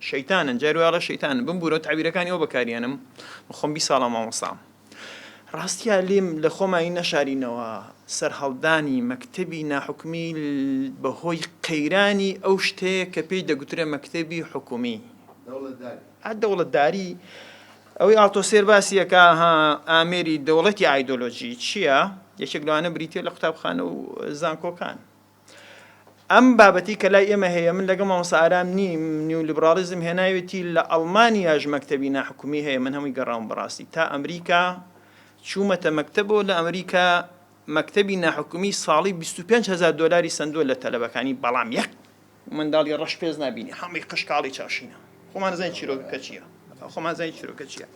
شەیتانن جاری وای ئەڵێ شەیتانن بمبورەوە تەعبیرەکانی ئەو بەکاریەنم من خۆم بیست ساڵە مامۆستام ڕاستیا لێم لە خۆمانی نەشارینەوە سەرهەڵدانی مەکتەبی ناحکومی بەهۆی قەیرانی ئەو شتەیە کە پێی دەگوترێ مەکتەبی حکومی دەوڵەتداری ئەوەی ئاڵتۆسێر باسیەکە ها ئامێری دەوڵەتی ئایدۆلۆژی چییە یەکێک لەوانە بریتە لە قوتابخانە و زانکۆکان ئەم بابەتەی کە لای ئێمە هەیە من لەگەڵ مامۆستا ئارام نیم، نیولیبڕاڵیزم هێناوێتی لە ئەڵمانیاش مەکتەبی ناحکومی هەیە من هەمووی گەڕاوم بەڕاستی تا ئەمریکا چوومەتە مەکتەبەوە لە ئەمریکا مەکتەبی ناحکومی ساڵی 25 هزار دۆلاری سندووە لە تەلەبەکانی بەڵام یەک منداڵی ڕەش پێست نابینی هەمووی قشکاڵی چاشینە. خۆمان دەزانین چیرۆکەکە چییە خۆمان دەزانین چیرۆکە چییە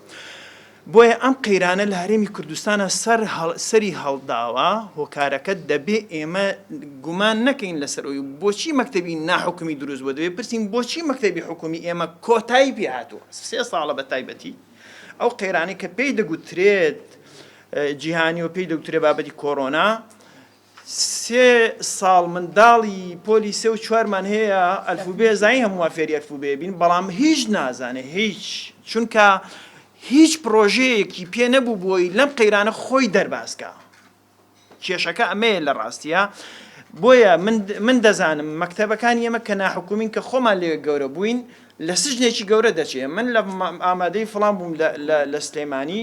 بۆیە ئەم قەیرانە لە هەرێمی کوردستانە سەر سەری هەڵداوە هۆکارەکە دەبێ ئێمە گومان نەکەین لەسەر ئەوی بۆچی مەکتتەبی ناحکومی دروست بۆ دەبێ پرسین بۆچی مەکتتەبی حکومی ئێمە کۆتایی پێ هاتووە سێ ساڵە بە تایبەتی ئەو قەیرانی کە پێی دەگوترێت جیهانی و پێی دەوترێ بابەتی کۆرۆنا سێ ساڵ منداڵی پۆلی سێ و چوارمان هەیە ئەلفوبێ زانی هەموومان فێری ئەلفوبێ بین بەڵام هیچ نازانێ هیچ چونکە هیچ پڕۆژەیەکی پێ نەبوو بۆی لەم قەیرانە خۆی دەرباز کا کێشەکە ئەمەیە لە ڕاستیە بۆیە من دەزانم مەکتەبەکانی ئێمە کە ناحکومین کە خۆمان لێ گەورە بووین لە سژنێکی گەورە دەچێ من لە ئامادەی فڵام بووم لە سلێمانی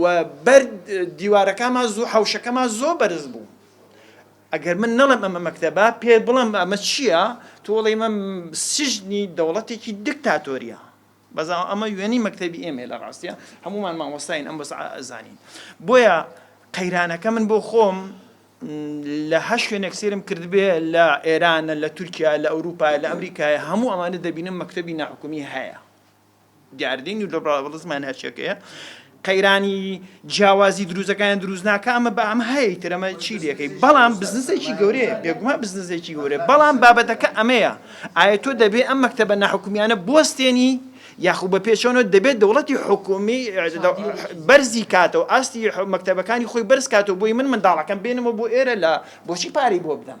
و بەر دیوارەکاما زوو حەوشەکەما زۆر بەرز بوو ئەگەر من نەڵم ئەمە مەکتەبە پێ بڵم ئەمە چییە تۆڵی من سژنی دەوڵەتێکی دکتاتۆریە بەزا ئەمە وێنی مەکتتەبی ئێمە لە ڕاستە هەمومان مامۆستاین ئەم بەس ئازانین بۆیە قەیرانەکە من بۆ خۆم لە هە شوێنێک سێرم کردبێ لە ئێرانە لە تورکیا لە ئەوروپا لە ئەمریکای هەموو ئەمانە دەبینم مەکتتەبی ناحکومی هەیە دیاردەی نیولیبراڵیزم ماناچیەکەیە قەیرانی جیاوازی دروزەکان دروست ناکە ئەمە بە ئەم هەیە تر ئەمە چی لەکەی بەڵام بزنسێکی گەورەیە بێگومان بزنسێکی گەورە بەڵام بابەتەکە ئەمەیە ئایا تۆ دەبێ ئەم مەکتتەبە ناحکومیانە بستێنی یاخو بە پێچەوە دەبێت دەوڵەتی حکومی بەرزی کاتەوە ئاستی مەکتتەبەکانی خۆی بەرز کاتەوە بۆی من منداڵەکەم بێنمە بۆ ئێرە لە بۆچی پارەی بۆ بدەم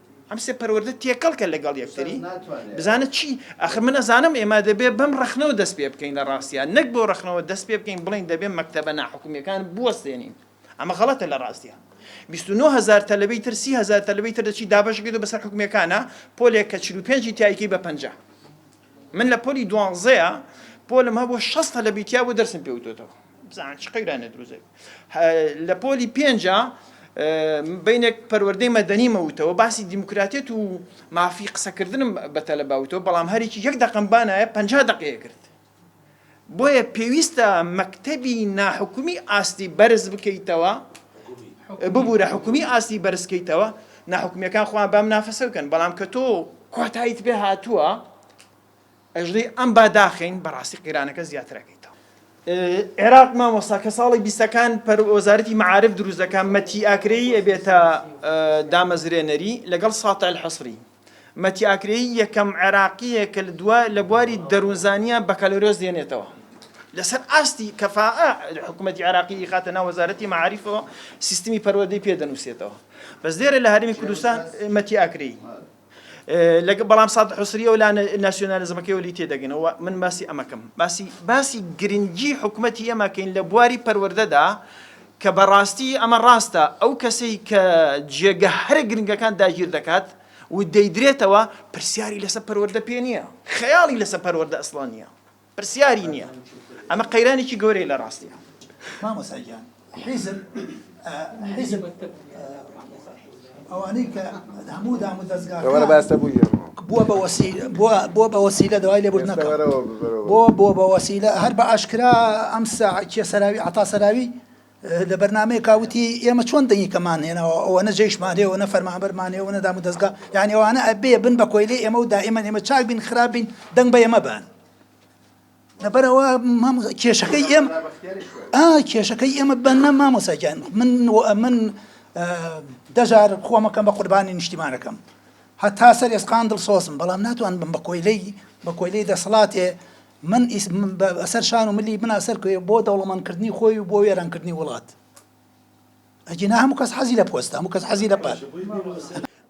ئەم سێ پەروەردە تێکەڵ کە لەگەڵ یەکتری بزانە چی ئەخر من ئەزانم ئێمە دەبێ بەم ڕخنەوە دەست پێ بکەین لە ڕاستیان نەک بۆ ڕخنەوە دەست پێ بکەین بڵین دەبێ مەکتتەبە ناحکومیەکان بوەستێنین ئەمە غەڵەتە لە ڕاستە. هزار تەلبەی تر سی هزار تەلبەی تر دەچی دابشکێت و بەسەر حکومەکانە پۆلێک کە 45 تایکی بە پنج. من لە پۆلی دوانزەیە پۆلم هەبوو شەستە لە بیتیا بۆ دەرسم پێ وتۆتەوە بزان چ قەیرانە دروزێک لە پۆلی پێنجە بینێک پەروەردەی مەدەنی مەوتەوە باسی دیموکراتێت و مافی قسەکردنم بە تەلەباوتەوە بەڵام هەرێکی یەک دەقم بانایە پ دقەیە کرد بۆیە پێویستە مەکتەبی ناحکومی ئاستی بەرز بکەیتەوە ببوورە حکومی ئاستی بەرزکەیتەوە ناحکومیەکان خۆیان بەم نافەسە بکەن بەڵام کە تۆ کۆتاییت پێ هاتووە ئەژڵی ئەم باداخین بەڕاستی قیرانەکە زیاترەکەیتەوە عێراق مامۆستا کە ساڵی بیستەکان پەر وەزارەتی معاعرف دروستەکان مەتی ئاکرەی ئەبێتە دامەزرێنەری لەگەڵ ساتە الحەسری مەتی ئاکرەیی یەکەم عێراقییە کە لە بواری دەروونزانییە بەکالۆریۆس دێنێتەوە. لەسەر ئاستی کەفائە حکوومەتی عێراقی ئیخاتە ناو وەزارەتی مەعاریفەوە سیستمی پەروەردەی پێ دەنووسێتەوە. بەس لێرە لە هەرێمی کوردستان مەتی ئاکرەیی. لەگە بەڵام ساد حوسری و لا ناسیۆنالیزمەکەی وەلی تێدەگەنەوە من باسی ئەمەکەم باسی باسی گرنگی حکوومەتی ئێمەکەین لە بواری پەروەردەدا کە بە ڕاستی ئەمە ڕاستە، ئەو کەسەی کە جێگە هەرە گرنگەکان داگیر دەکات و دەیدرێتەوە، پرسیاری لەسە پەروەردە پێ نییە، خەیاڵی لەسە پەروەردە ئەسڵەن نییە، پرسیاری نییە. ئەمە قەیرانێکی گەورەیە لە ڕاستیدا. مامۆستا گیان حیزب حیزب. ئەوانەی کە هەموو دام و دەزگاکان. بووە بە وەسیلە بووە بە وەسیلە دوای لێبوردنەکەوە بووە بووە بە وەسیلە هەر بە ئاشکرا ئەم سا کێ سەراوی عەتا سەراوی لە بەرنامەیەکا وتی ئێمە چۆن دەنگیکەمان هێناوە ئەوەنە جەیشمان هەیە ئەوەنە فەرمانبەرمان هەیە ئەوەنە دام و دەزگا یانی ئەوانە ئەبێ بن بە کۆیلەی ئێمە و دائیمەن ئێمە چاک بین خراپ بین دەنگ بە ئێمە بەن. لەبەرەوە کێشەکەی ئێم کێشەکەی ئێمە بە نە مامۆساگیان من من دەجار خۆمەکەم بە قوربانی نیشتیمانەکەم هەتا سەر ئێسقان دڵ سۆزم بەڵام ناتوان بم بە کۆیلەی بە کۆیلەی دەسەڵاتێ من ئەسەر شان و ملی بنا سەر کوێ بۆ دەوڵەمەندکردنی خۆی و بۆ وێرانکردنی وڵات ئەگینا هەموو کەس حەزی لە پۆستە هەموو کەس حەزی لە پار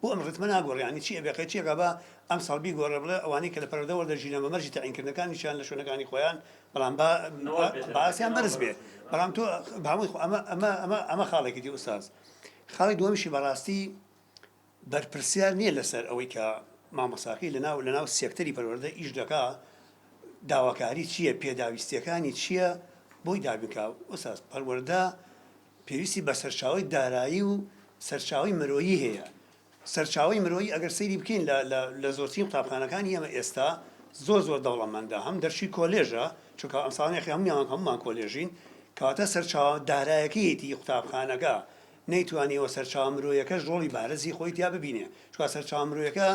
بۆ ئەم ڕتمە ناگۆڕێ یانی چی ئەبێ قەی چیەکا با ئەمساڵ بیگۆڕێ بڵێ ئەوانەی کە لە پەرەدە وەردەگیرێن بە مەرجی تەعینکردنەکانیشیان لە شوێنەکانی خۆیان بەڵام با با ئاستیان بەرز بێ بەڵام تۆ با هەمووی خۆ ئەمە ئەمە ئەمە ئەمە خاڵێکی دی ئوستاز خاڵی دووەمیشی بەڕاستی بەرپرسیار نیە لەسەر ئەوەی کە مامۆستاکەی لەناو لەناو سێکتەری پەروەردە ئیش دەکا داواکاری چیە پێداویستیەکانی چیە بۆی دابینکا ئوستاز پەروەردە پێویستی بە سەرچاوی دارایی و سەرچاوی مرۆیی هەیە سەرچاوی مرۆیی ئەگەر سەیری بکەین لە لە لە زۆرترین قوتابخانەکانی ئێمە ئێستا زۆر زۆر دەوڵەمەندە هەم دەرچوی کۆلێژە چونکە ئەمساڵ نرخی هەموویان هەمومان کۆلێژین کەواتە سەرچاوە دارایەکەیەتی قوتابخانەکە نەیتوانیوە سەرچاوە مرۆیەکەش ڕۆڵی بارزی خۆی تیا ببینێ چوار سەرچاوە مرۆیەکە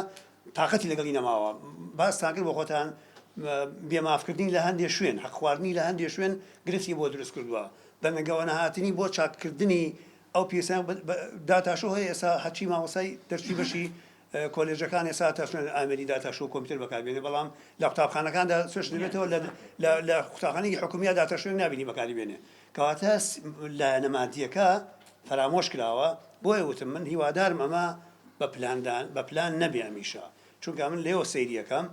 تاقەتی لەگەڵی نەماوە باستان کرد بۆ خۆتان بێ مافکردنی لە هەندێ شوێن حەق خواردنی لە هەندێ شوێن گرفتی بۆ دروست کردووە بەنگەوە نەهاتنی بۆ چاککردنی ئەو پیرسە داتاشۆ هەیە ئێستا هەرچی مامۆسای دەرچوی بەشی کۆلێژەکان ئێستا تەشنن ئامێری داتاش و کۆمپیوتەر بەکاربێنێ بەڵام لە قوتابخانەکاندا سوێش دەبێتەوە لە قوتابخانەی حکومیە داتەشێن نبینی بەکاری بێنێ کەواتە لایەنە مادیەکە فەرامۆش کراوە بۆیە وتم من هیوادارم ئەمە بە پلاندان بە پلان نەبێ ئەمیشە چونکە من لێوە سەیریەکەم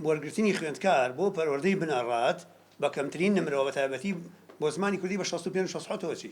وەرگرتنی خوێندکار بۆ پەروەردەی بنەڕات بە کەمترین نمرەوە بە تایبەتی بۆ زمانی کوردی بە 65 چی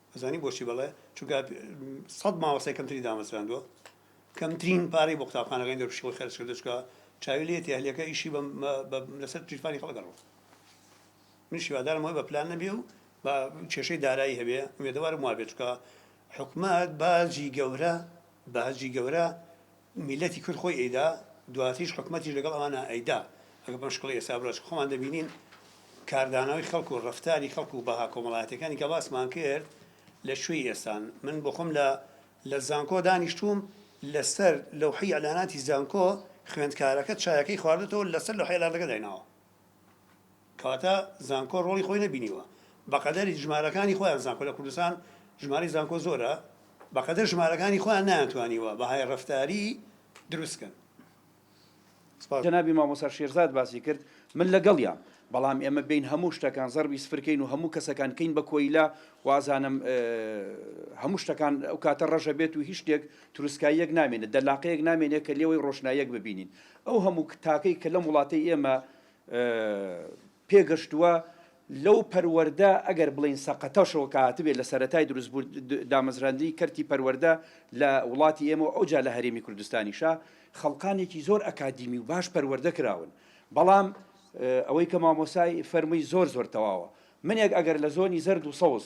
ئەزانی بۆچی بەڵێ؟ چونکە سەد مامۆستای کەمتری دامەزراندووە، کەمترین پارەی بۆ قوتابخانەکانی دەروپشکەوە خەرج کردووە، چونکە چاوی لێیەتی ئەهلیەکە ئیشی لەسەر گیرفانی خەڵک ئەڕوات. منیش هیوادارم ئەوەی بە پلان نەبێ و بە کێشەی دارایی هەبێ، ئومێدەوارم وابێت، چونکە حکومەت باجی گەورە باجی گەورە میلەتی کورد خۆی ئەیدا دواتریش حکومەتیش لەگەڵ ئەوانە ئەیدا ئەگەر بەم شکڵەی ئێستا بڕوا چکە خۆمان دەبینین کاردانەوەی خەڵک و ڕەفتاری خەڵک و بەها کۆمەڵایەتەکانی کە باسمان کرد لە کوێی ئێستان من بۆ خۆم لە لە زانکۆ دانیشتووم لەسەر لەوحەی ئیعلاناتی زانکۆ خوێندکارەکە چایەکەی خواردۆتەوە لەسەر لەوحەی ئیعلانەکە دایناوە. کەواتە زانکۆ ڕۆڵی خۆی نەبینیوە بەقەدەر ژمارەکانی خۆیان زانکۆ لە کوردستان ژمارەی زانکۆ زۆرە بەقەدەر ژمارەکانی خۆیان نەیانتوانیوە بەهای ڕەفتاری دروست کەن. جەنابی مامۆستا شێرزاد باسی کرد من لەگەڵیام بەڵام ئێمە بێین هەموو شتەکان زەڕبی سفر کەین و هەموو کەسەکان کەین بە کۆیلە وازانم هەموو شتەکان ئەو کاتە ڕەژە بێت و هیچ شتێک تروسکاییەک نامێنێت دەلاقەیەک نامێنێت کە لێوەی ڕۆشناییەک ببینین ئەو هەموو تاکەی کە لەم وڵاتەی ئێمە پێگەشتووە لەو پەروەەردە ئەگەر بڵین سەقەتەشەوە کاتبێت لە سەتای دروست بوو دامەزراندنی کەرتی پەروەەردە لە وڵاتی ئێمە ئەو جا لە هەرێمی کوردستانیشە خەڵقانێکی زۆر ئەکادیمی و باش پەروەەردە کراون بەڵام ئەوەی کە مامۆسای فەرمووی زۆر زۆر تەواوە منێک ئەگەر لە زۆنی زەرد و سەوز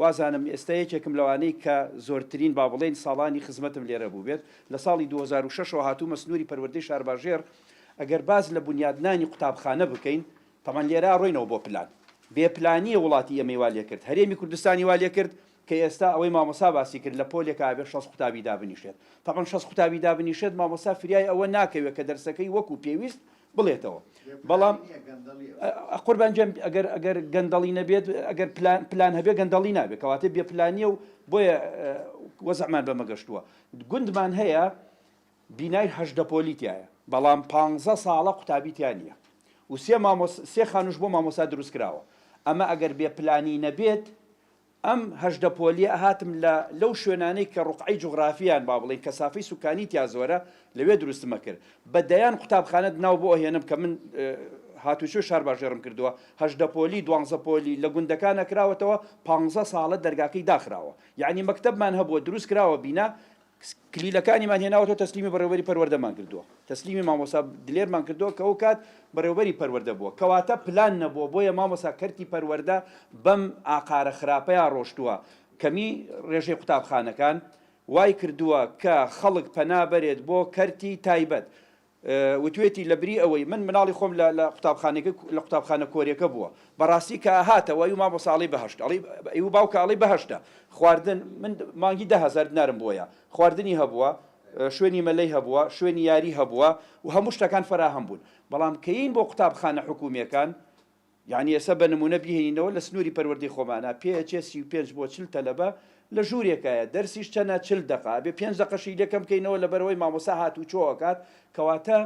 وازانم ئێستا یەکێکم لەوانەی کە زۆرترین با بڵێین ساڵانی خزمەتم لێرە بووبێت، لە ساڵی دوو هەزار و شەش ەوە هاتوومە سنووری پەروەردەی شارباژێڕ، ئەگەر باس لە بونیادنانی قوتابخانە بکەین، تەبعەن لێرە ڕۆینەوە بۆ پلان، بێ پلانییە وڵاتی ئێمەی وا لێکرد، هەرێمی کوردستانی وا لێکرد کە ئێستا ئەوەی مامۆستا باسی کرد لە پۆلێکا ئەبێت شەست قوتابی دابنیشێت، تەبعەن شەست قوتابی دابنیشێت مامۆستا فریای ئەوە ناکەوێت کە دەرسەکەی وەکو پێویست بڵێتەوە بەڵام قوربان جێم ئەگەر ئەگەر گەندەڵی نەبێت ئەگەر پلان هەبێ گەندەڵی نابێت کەواتە بێ پلانیە و بۆیە وەزەمان بەمەگەشتووە گوندمان هەیە بینای هەشدە پۆلیتایە بەڵام پ ساڵە قوتابیتیان نیە و سێ سێ خانوش بۆ مامۆسا دروست کراوە ئەمە ئەگەر بێ پلانی نەبێت ئەم هەژدە پۆلیە هاتم لە لەو شوێنانەی کە ڕوقعەی جوغرافی یان با بڵێین کەسافەی سوکانی تیا زۆرە لەوێ دروستمە کرد بە دەیان قوتابخانەت ناو بۆ ئەهێنم کە من هاتوچۆی شارباژێڕم کردوە هەژدە پۆلی دوانزە پۆلی لە گوندەکانە کراوەتەوە پانزە ساڵە دەرگاکەی داخراوە یانی مەکتەبمان هەبوە دروست کراوە بینا کلیلەکانیمان هێناوەتەوە تەسلیمی بەڕێوەبەری پەروەردەمان کردووە تەسلیمی مامۆستا دلێرمان کردووە کە ئەوکات بەڕێوەبەری پەروەردە بووە کەواتە پلان نەبووە بۆیە مامۆستا کەرتی پەروەردە بەم ئاقارە خراپەیا ڕۆشتووە کەمی ڕێژەی قوتابخانەکان وای کردووە کە خەڵک پەنا بەرێت بۆ کەرتی تایبەت وتوێتی لەبری ئەوەی من مناڵی خۆم لە لە قوتابخانەکە لە قوتابخانە کۆریەکە بووە بەڕاستی کە ئەهاتە وە ئیو مامۆسا ئەڵی بەهەشت ئەڵی ئیو باوکە ئەڵی بەهەشتە خواردن من مانگی دە هەزار دنارم بۆیە خواردنی هەبووە شوێنی مەلەی هەبووە شوێنی یاری هەبووە و هەموو شتەکان فەراهەم بوون بەڵام کە یین بۆ قوتابخانە حکومیەکان یانی ئێستا بە نموونە بیهێنینەوە لە سنووری پەروەردەی خۆمانا پێئەچێ سی و پێنج بۆ چل تەلەبە لە ژوورێکایە دەرسیش چەنە چل دەقە ئەبێ پێنج دەقەشی لێ کەم کەینەوە لەبەرئەوەی مامۆستا هاتووچۆ ئەکات کەواتە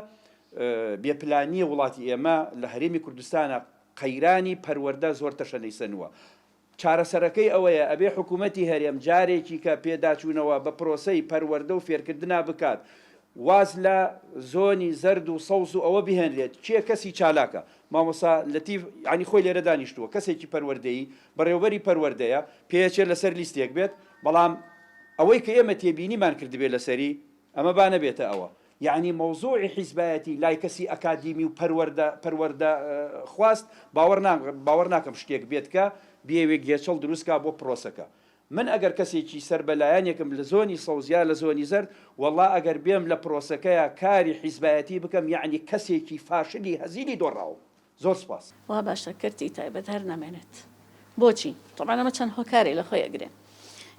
بێ پلانییە وڵاتی ئێمە لە هەرێمی کوردستانا قەیرانی پەروەردە زۆر تەشەنەی سەنووە چارەسەرەکەی ئەوەیە ئەبێ حکوومەتی هەرێم جارێکیکە پێداچوونەوە بە پرۆسەی پەروەردە و فێرکردنا بکات، واز لە زۆنی زەرد و سەوز و ئەوە بهێنرێت، کێ کەسی چالاکە؟ مامۆستا لەتیف یانی خۆی لێرە دانیشتووە، کەسێکی پەروەردەیی، بەڕێوەبەری پەروەردەیە، پێیەچێت لەسەر لیستێک بێت، بەڵام ئەوەی کە ئێمە تێبینیمان کردبێت لەسەری، ئەمە با نەبێتە ئەوە. یەعنی مەوزوعی حیزبایەتی لای کەسی ئەکادیمی و پەروەردە پەروەردە خواست باوەڕ نا باوەڕ ناکەم شتێک بێت کە بیەوێ گێچەڵ دروست کا بۆ پرۆسەکە من ئەگەر کەسێکی سەر بە لایەنێکم لە زۆنی سەوز یا لە زۆنی زەرد وەڵا ئەگەر بێم لە پرۆسەکەیا کاری حیزبایەتی بکەم یەعنی کەسێکی فاشلی هەزیلی دۆڕاوم زۆر سپاس. وا باشە کەرتی تایبەت هەر نەمێنێت بۆچی؟ تەبعەن ئەمە چەند هۆکارێ لە خۆی ئەگرێ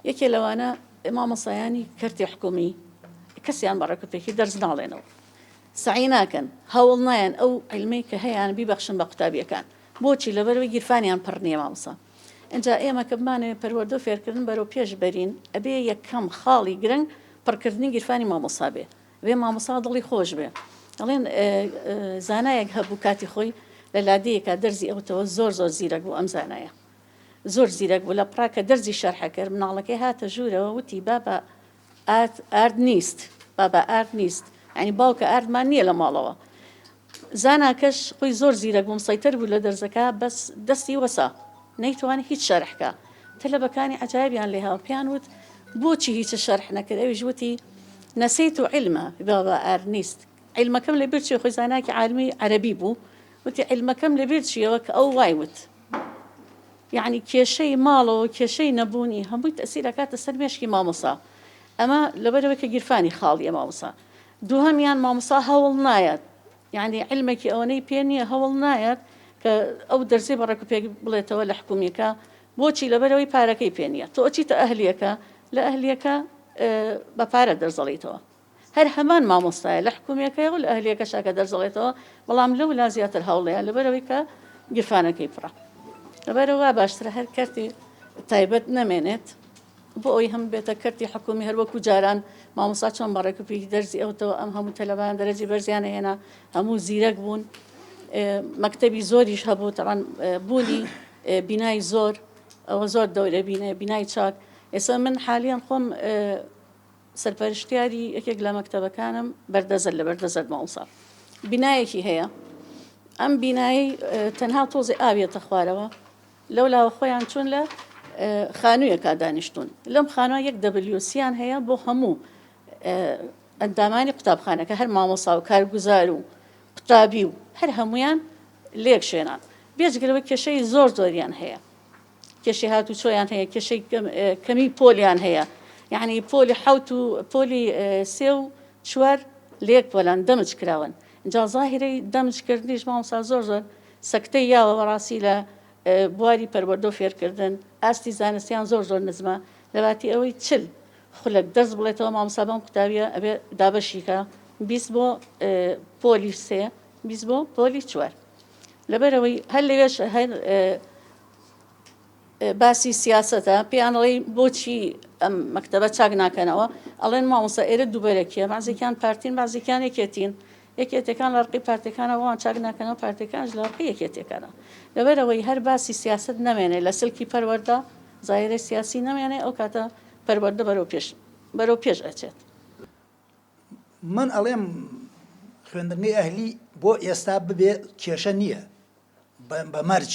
یەکێ لەوانە مامۆسایانی کەرتی حکومی کەسیان بە ڕێکوپێکی دەرس ناڵێنەوە سعی ناکەن هەوڵ نایەن ئەو علمەی کە هەیان بیبەخشن بە قوتابیەکان بۆچی لەبەرەوەی گیرفانیان پڕ نییە مامۆسا ئەجا ئێمە کە بمانەوێ پەروەردە و فێرکردن بەرەو پێش بەرین ئەبێ یەکەم خاڵی گرنگ پڕکردنی گیرفانی مامۆسا بێ وێ مامۆسا دڵی خۆش بێ. ئەڵێن زانایەک هەبوو کاتی خۆی لە لادێیەکا دەرزی ئەوتەوە زۆر زۆر زیرەک بوو ئەم زانایە زۆر زیرەک بوو لە پڕا کە دەرزی شەرحە کرد مناڵەکەی هاتە ژوورەوە وتی بابا ئارد ئارد نیست بابا ئارد نیست ینی باوکە ئاردمان نییە لە ماڵەوە زاناکەش خوی زۆر زیرەک بوو مسەیتەر بوو لە دەرزەکە بەس دەستی وەسا نەیتوانی هیچ شەرح کا تەلەبەکانی عەجایبیان لێ هاو پیان وت بۆچی هیچ شەرح نەکرد ئەویش وتی نەسیت و علمە بابا ئارنیست علمەکەم لە بیر چی خوی زاناکی عالمی عەرەبی بوو وتی علمەکەم لە بیر چیەوە کە ئەو وای وت یعنی کێشەی ماڵەوە کێشەی نەبوونی هەمووی تەسیرەکاتە سەر مێشکی مامۆسا ئەمە لەبەرەوەی کە گیرفانی خاڵیە مامۆسا دوهەمیان مامۆستا هەوڵ نایەت یانی عیلمێکی ئەوەنەی پێ نیە هەوڵ نایەت کە ئەو دەرزەی بە ڕێکو پێک بڵێتەوە لە حکومیەکە بۆچی لەبەرەوەی پارەکەی پێ نیە تۆ ئەچیتە ئەهلیەکە لە ئەهلیەکە بە پارە دەرزەڵیتەوە هەر هەمان مامۆستایە لە حکومیەکەی و لە ئەهلیەکە شاکە دەرزەڵێتەوە بەڵام لەو لا زیاتر هەوڵەیە لەبەرەوەی کە گیرفانەکەی پڕە لەبەرەوە باشترە هەر کەرتی تایبەت نەمێنێت بۆ ئەوەی هەموو بێتە کەرتی حکوومی هەر وەکوو جاران مامۆستا چۆن بە ڕێکوپێکی دەرزی ئەوتەوە ئەم هەموو تەلەبەیان دەرەجی بەرزیان هێنا هەموو زیرەک بوون مەکتەبی زۆریش هەبوو تەوان بوونی بینای زۆر ئەوە زۆر دەورە بینێ بینای چاک ئێستا من حالیان خۆم سەرپەرشتیاری یەکێک لە مەکتەبەکانم بەردەزەر لە بەردەزەر ماوسا بینایەکی هەیە ئەم بینایی تەنها تۆزی ئاویێتە خوارەوە لەو لاوە خۆیان چوون لە خانوویەکا دانیشتوون لەم خانوە یەک دەبلیۆسییان هەیە بۆ هەموو ئەندامانی قوتابخانەکە هەر مامۆسا و کارگوزار و قوتابی و هەر هەمویان لێک شوێنان بێجگەلەوە کێشەی زۆر زۆریان هەیە کێشی هات و چۆیان هەیە کێشەی کەمی پۆلیان هەیە یعنی پۆلی حوت و پۆلی سێ و چوار لێک پۆلان دەمج کراون جا ظاهرەی دەمجکردنیش مامسا زۆر زۆر سەکتەی یاوە بەڕاستی لە بواری پەروەردە و فێرکردن ئاستی زانستیان زۆر زۆر نزمە لەباتی ئەوەی چل خولەک دەرس بڵێتەوە مامۆستا بەم قوتابیە ئەبێ دابەشی کە بیست بۆ پۆلی سێ بیست بۆ پۆلی چوار لەبەرەوەی هەر لەوێش هەر باسی سیاسەتە پێیان ئەڵێی بۆچی ئەم مەکتەبە چاک ناکەنەوە ئەڵێن مامۆستا ئێرە دووبەرەکیە بازێکیان پارتین بازێکیان یەکێتین یەکێتەکان لە ڕقی پارتەکانەوەوان چاک ناکەنەوە پارتەکانش لە ڕقی یەکێتەکانە لەبەرەوەی هەر باسی سیاست نامێنێ لە سلکی پەروەەردە زایرە سیاسی نامێنێ ئەو کاتە پەروەەردە بەرەو پێش بەرەو پێش ئەچێت من ئەڵێم خوێندنگەی ئەهلی بۆ ئێستا ببێ کێشە نییە بە مەرج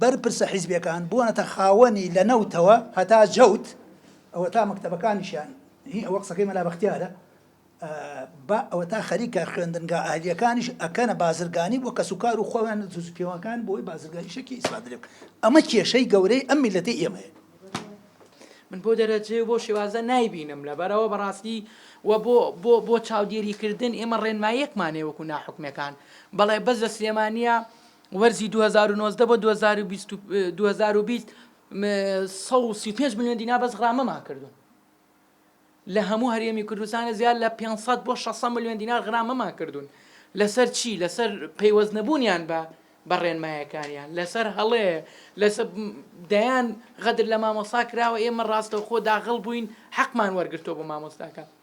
بەرپرسە حیزبیەکان بوونەتە خاوەنی لە نەوتەوە هەتا جەوت ئەوەتا مەکتەبەکانیشیان هی ئەوە قسەکەی مەلا بەختیارە با ئەوەتا خەریکە خوێندنگا ئەهلیەکانیش ئەکەنە بازرگانی بۆ کەسوکار و خۆیان زوز پێوەکان بۆی بازرگانی شەکی ئیسفادرێک ئەمە کێشەی گەورەی ئەم میلەتی ئێمەیە من بۆ دەرەجێ بۆ شێوازە نایبینم لەبەرەوە بەڕاستی و بۆ بۆ بۆ چاودێریکردن ئێمە ڕێنمایەکمانێ وەکو ناحکمەکان بەڵێ بەس لە سلێمانە وەرزی دوو هەزار و نۆزدە بۆ دوو هەزار و بیست و دوو هەزار و بیست سەد و سی و پێنج ملیۆن دینار بەس غرامەمان کردوون لە هەموو هەرێمی کوردستانە زیاد لە 500 بۆ 600 ملیۆن دینار غرامەمان کردوون لەسەر چی لەسەر پەیوەست نەبوونیان بە بە ڕێنمایەکانیان لەسەر هەڵێ لەسەر دەیان غەدر لە مامۆسا کراوە ئێمە ڕاستەوخۆ داغڵ بووین حەقمان وەرگرتەوە بۆ مامۆستاکە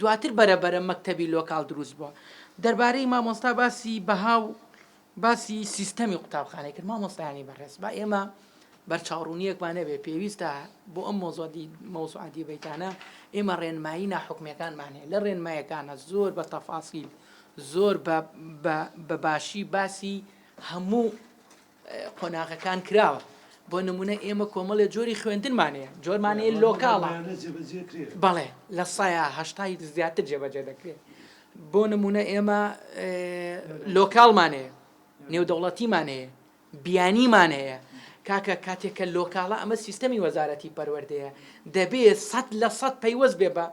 دواتر بەرە بەرە مەکتەبی لۆکاڵ دروست بووە دەربارەی مامۆستا باسی بەها و باسی سیستەمی قوتابخانەی کرد مامۆستایانی بەڕێز با ئێمە بەرچاوڕوونیەکمان نەبێ پێویستە بۆ ئەم مۆزۆدی مەوسعادی بیتانە ئێمە ڕێنمایی ناحکمەکانمان هەیە لە ڕێنمایەکانە زۆر بە تەفاسیل زۆر بە باشی باسی هەموو قۆناغەکان کراوە بۆ نمونە ئێمە کۆمەڵێ جۆری خوێندنمانەیە جۆرمانەیە لۆکاڵە بەڵێ لە سایە هەشتای زیاتر جێبەجێ دەکرێت بۆ نمونە ئێمە لۆکاڵمانەیە نێودەوڵەتیمان هەیە بیانیمان هەیە کاکە کاتێکە لۆکاڵە ئەمە سیستەمی وەزارەتی پەروەردەیە دەبێت سەد لە سەد پەیوەست بێ بە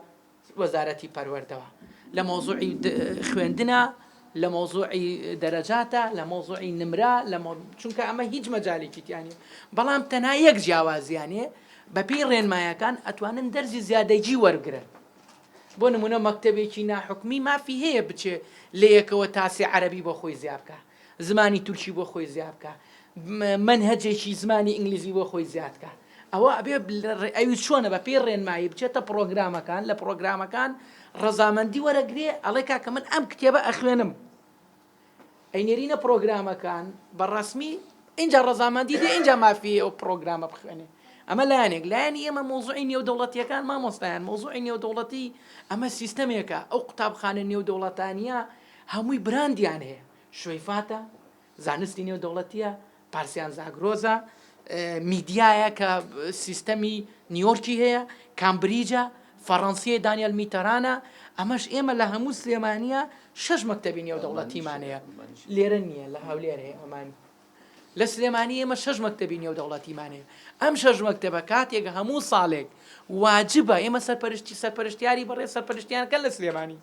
وەزارەتی پەروەردەوە لە مەوزوعی خوێندنا لە مەوزوعی دەرەجاتە لە مەوزوعی نمرە لە چونکە ئەمە هیچ مەجالێکی تیانە بەڵام تەنها یەک جیاوازیانێ بەپی ڕێنمایەکان ئەتوانن دەرزی زیادەجی وەرگرن بۆ نمونە مەکتتەبێکی ناحکمی مافی هەیە بچێ لە یەکەوە تاسی عەربی بۆ خۆی زیابکە زمانی تورکی بۆ خۆی زیا بکا مەنهەجێکی زمانی ئینگلیزی بۆ خۆی زیا بکا ئەوە ئەبێ ئەوی چۆنە بە پێی ڕێنمایی بچێتە پڕۆگرامەکان لە پڕۆگرامەکان ڕەزامەندی وەرەگرێ ئەڵێ کاکە من ئەم کتێبە ئەخوێنم ئەینێرینە پڕۆگرامەکان بە ڕسمی اینجا ڕەزامەندی دێ اینجا مافی ئەو پڕۆگرامە بخوێنێ ئەمە لایەنێک لایەنی ئێمە مۆزوعی نێودەوڵەتیەکان مامۆستایان مۆزوعی نێودەوڵەتی ئەمە سیستەمێکە ئەو قوتابخانە نێودەوڵەتانیە هەمووی براندیان هەیە شوەیفاتە زانستی نێودەوڵەتیە پارسیان زاگرۆزە میدیایە کە سیستەمی نیۆرکی هەیە کامبریجە فەڕەنسیە دانیل میتەرانە ئەمەش ئێمە لە هەموو سلێمانە شش مەکتتەبی نێودەوڵەتیمانەیە لێرە نییە لە هەولێر هەیە ئەمان لە سلێمانی ئێمە شەش مەکتەبی نێودەوڵەتیمان هەیە ئەم شەش مەکتەبە کاتێک هەموو ساڵێک واجبە ئێمە سەرپەرشتی سەرپەرشتیاری بەڕێ سەرپەرشتیانەکە لە سلێمانی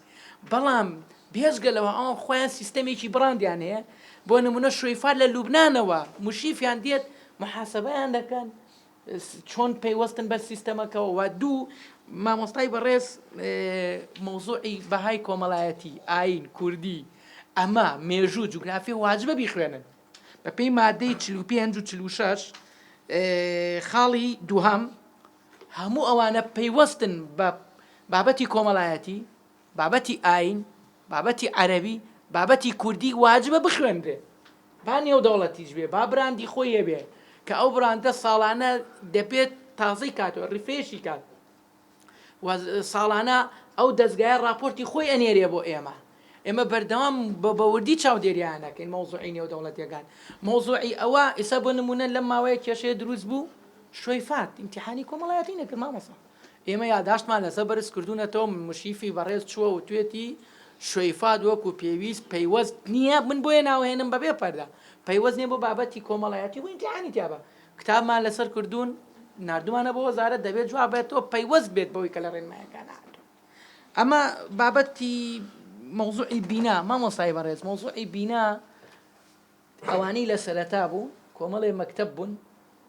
بەڵام بێزگە لەوە ئەوان خۆیان سیستەمێکی بڕاندیان هەیە بۆ نمونە شویفار لە لوبنانەوە مشیفیان دێت محاسبەیان دەکەن چۆن پەیوەستن بە سیستەمەکەوە و دوو مامۆستای بەڕێز مەوزوعی بەهای کۆمەڵایەتی ئاین کوردی ئەمە مێژوو جوگرافی واجبە بیخوێنن بەپێی مادەی چ و پێنج و چل و شش خاڵی دووهام هەموو ئەوانە پەیوەستن بە بابەتی کۆمەڵایەتی بابەتی ئاین، بابەتی عەرەبی، بابەتی کوردی واجبە بخوێنرێ. با نێودەوڵەتیش بێ، با براندی خۆی هەبێ، کە ئەو براندە ساڵانە دەبێت تازەی کاتەوە، ڕیفرێشی کات. و ساڵانە ئەو دەزگایە ڕاپۆرتی خۆی ئەنێرێ بۆ ئێمە. ئێمە بەردەوام بە بەوردی چاودێریان دەکەین مەوزوعی نێودەوڵەتیەکان. مەوزوعی ئەوە ئیستا بۆ نموونە لەم ماوەیە کێشەیە دروست بوو، شوەیفات ئیمتیحانی کۆمەڵایەتی نەکرد مامۆستا. ئێمە یاداشتمان لەسەر بەرز کردوونەتەوە و مشریفی بەڕێز چووە وتوێتی شویفاد وەکو پێویست پەیوەست نییە، من بۆیە ناوهێنم بەبێ پەردە، پەیوەست نییە بۆ بابەتی کۆمەڵایەتی و ئیمتیحانی تیابە. کتابمان لەسەر کردوون، ناردوومانە بۆ وەزارەت، دەبێت جواب بێتەوە پەیوەست بێت بەوەی کە لە ڕێنماییەکان نەهاتووە. ئەمە بابەتی مەوزوعی بینا، مامۆستای بەڕێز مەوزوعی بینا، ئەوانەی لە سەرەتا بوو کۆمەڵێ مەکتەب بوون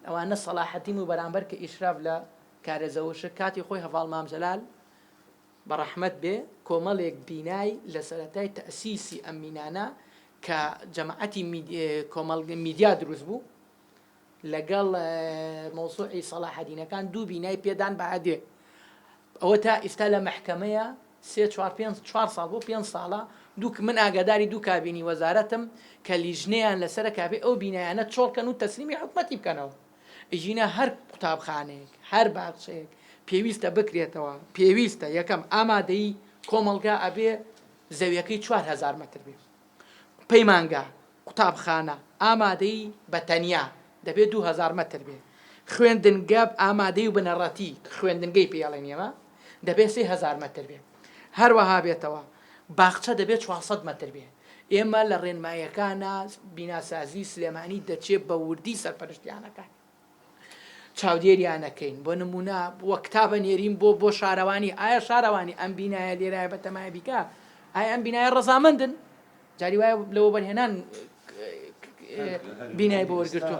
ئەوانە سەڵاحەدین و بەرامبەر کە ئیشراف لە کارە زەوشک کاتی خۆی هەڤاڵ مام جەلال بە ڕەحمەت بێ کۆمەڵێک بینای لە سەرەتای تەئسیسی ئەم مینانە کە جەماعەتی کۆمەڵگە میدیا دروست بوو لەگەڵ مەوزوعی سەڵاحەدینەکان دوو بینای پێدان بە ئەدێ ئەوە تا ئیستا لە مەحکەمەیە سێ چوار پێنج چوار ساڵ بۆ پێنج ساڵە دوو من ئاگاداری دوو کابینی وەزارەتم کە لیژنەیان لەسەر کابێ ئەو بینایانە چۆڵکەن و تەسلیمی حکومەتی بکەنەوە ئیژینە هەر قوتابخانەیەک هەر باخچەیەک پێویستە بکرێتەوە پێویستە یەکەم ئامادەی کۆمەڵگا ئەبێ زەویەکەی چوار هەزار مەتر بێ پەیمانگا، قوتابخانە، ئامادەی بە تەنیا دەبێ دوو هەزار مەتر بێ، خوێندنگە ئامادەی و بنەڕەتی کە خوێندنگەی پێ ئەڵێن ئێمە دەبێ سێ هەزار مەتر بێ هەروەها بێتەوە، باخچە دەبێ چوار سەد مەتر بێ. ئێمە لە ڕێنماییەکانا بیناسازی سلێمانی دەچێ بە وردی سەرپەرشتیان ئەکات. چاودێریان ئەکەین بۆ نمونە وە کتاب ئەنێرین بۆ بۆ شارەوانی ئایا شارەوانی ئەم بینایە لێرایە بە تەمای بیکە ئایا ئەم بینایە ڕەزامەندن جاری وایە لە وەبەرهێنان بینای بۆ وەرگرتووە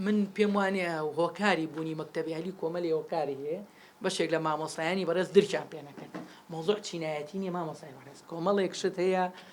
من پێم وانە هۆکاری بوونی مەکتتەبیالی کۆمەلی هۆکاری هەیە بەشێک لە مامۆسایانی بەڕێز درچان پێنەکەن مۆزۆ چینایەتی نیە مامۆسای بەڕێز کۆمەڵێک شت هەیە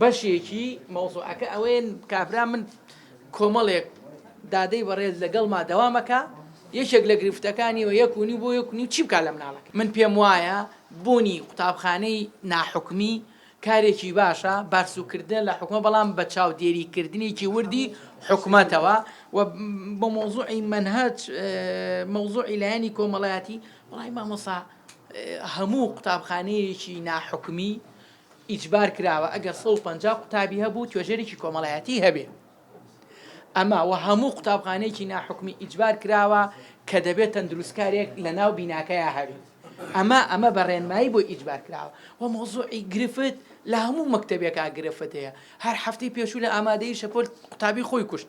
بەشێکی مەوزوعەکە ئەوەیە کابرا من کۆمەڵێک دادەی بەڕێز لەگەڵما دەوامەکە یەکێک لە گرفتەکانی و یەک و نیو بۆ یەک نیو چی بکە لە مناڵەکە من پێم وایە بوونی قوتابخانەی ناحکومی کارێکی باشە بارسوکردە لە حکومە بەڵام بە چاودێری کردنێکی وردی حکومەتەوە و بە مۆزوعی منهج مۆزوعی لایەنی کۆمەڵایەتی وڵی مامۆسا هەموو قوتابخانەیەکی ناحکومی ئیجبار کراوە ئەگەر سەد و پەنجا قوتابی هەبوو توێژەرێکی کۆمەڵایەتی هەبێ ئەمە وە هەموو قوتابخانەیەکی ناحکومی ئیجبار کراوە کە دەبێ تەندروستکارێک لە ناو بیناکەیا هەبێ ئەمە ئەمە بە ڕێنمایی بۆ ئیجبار کراوە وە مۆزوعی گرفت لە هەموو مەکتەبێکا گرفت هەیە هەر هەفتەی پێشوو لە ئامادەی شەپۆل قوتابی خۆی کوشت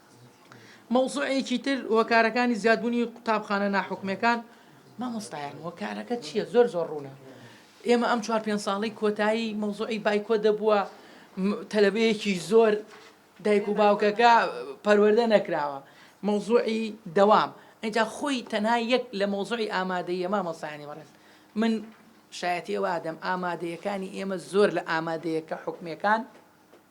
مەوزوعێکی تر هۆکارەکانی زیادبوونی قوتابخانە ناحکومیەکان مامۆستایان هۆکارەکە چیە زۆر زۆر ڕوونە ئێمە ئەم چوار پێنج ساڵی کۆتایی مەوزوعی بایکۆ دەبووە تەلەبەیەکی زۆر دایک و باوکەکە پەروەەردە نەکراوە مەوزوعی دەوام ئەجا خۆی تەنها یەک لە مەوزوعی ئامادەیە مامۆستایانی بەڕێز من شایەتی ئەوە ئادەم ئامادەیەکانی ئێمە زۆر لە ئامادەیەکە حکومەکان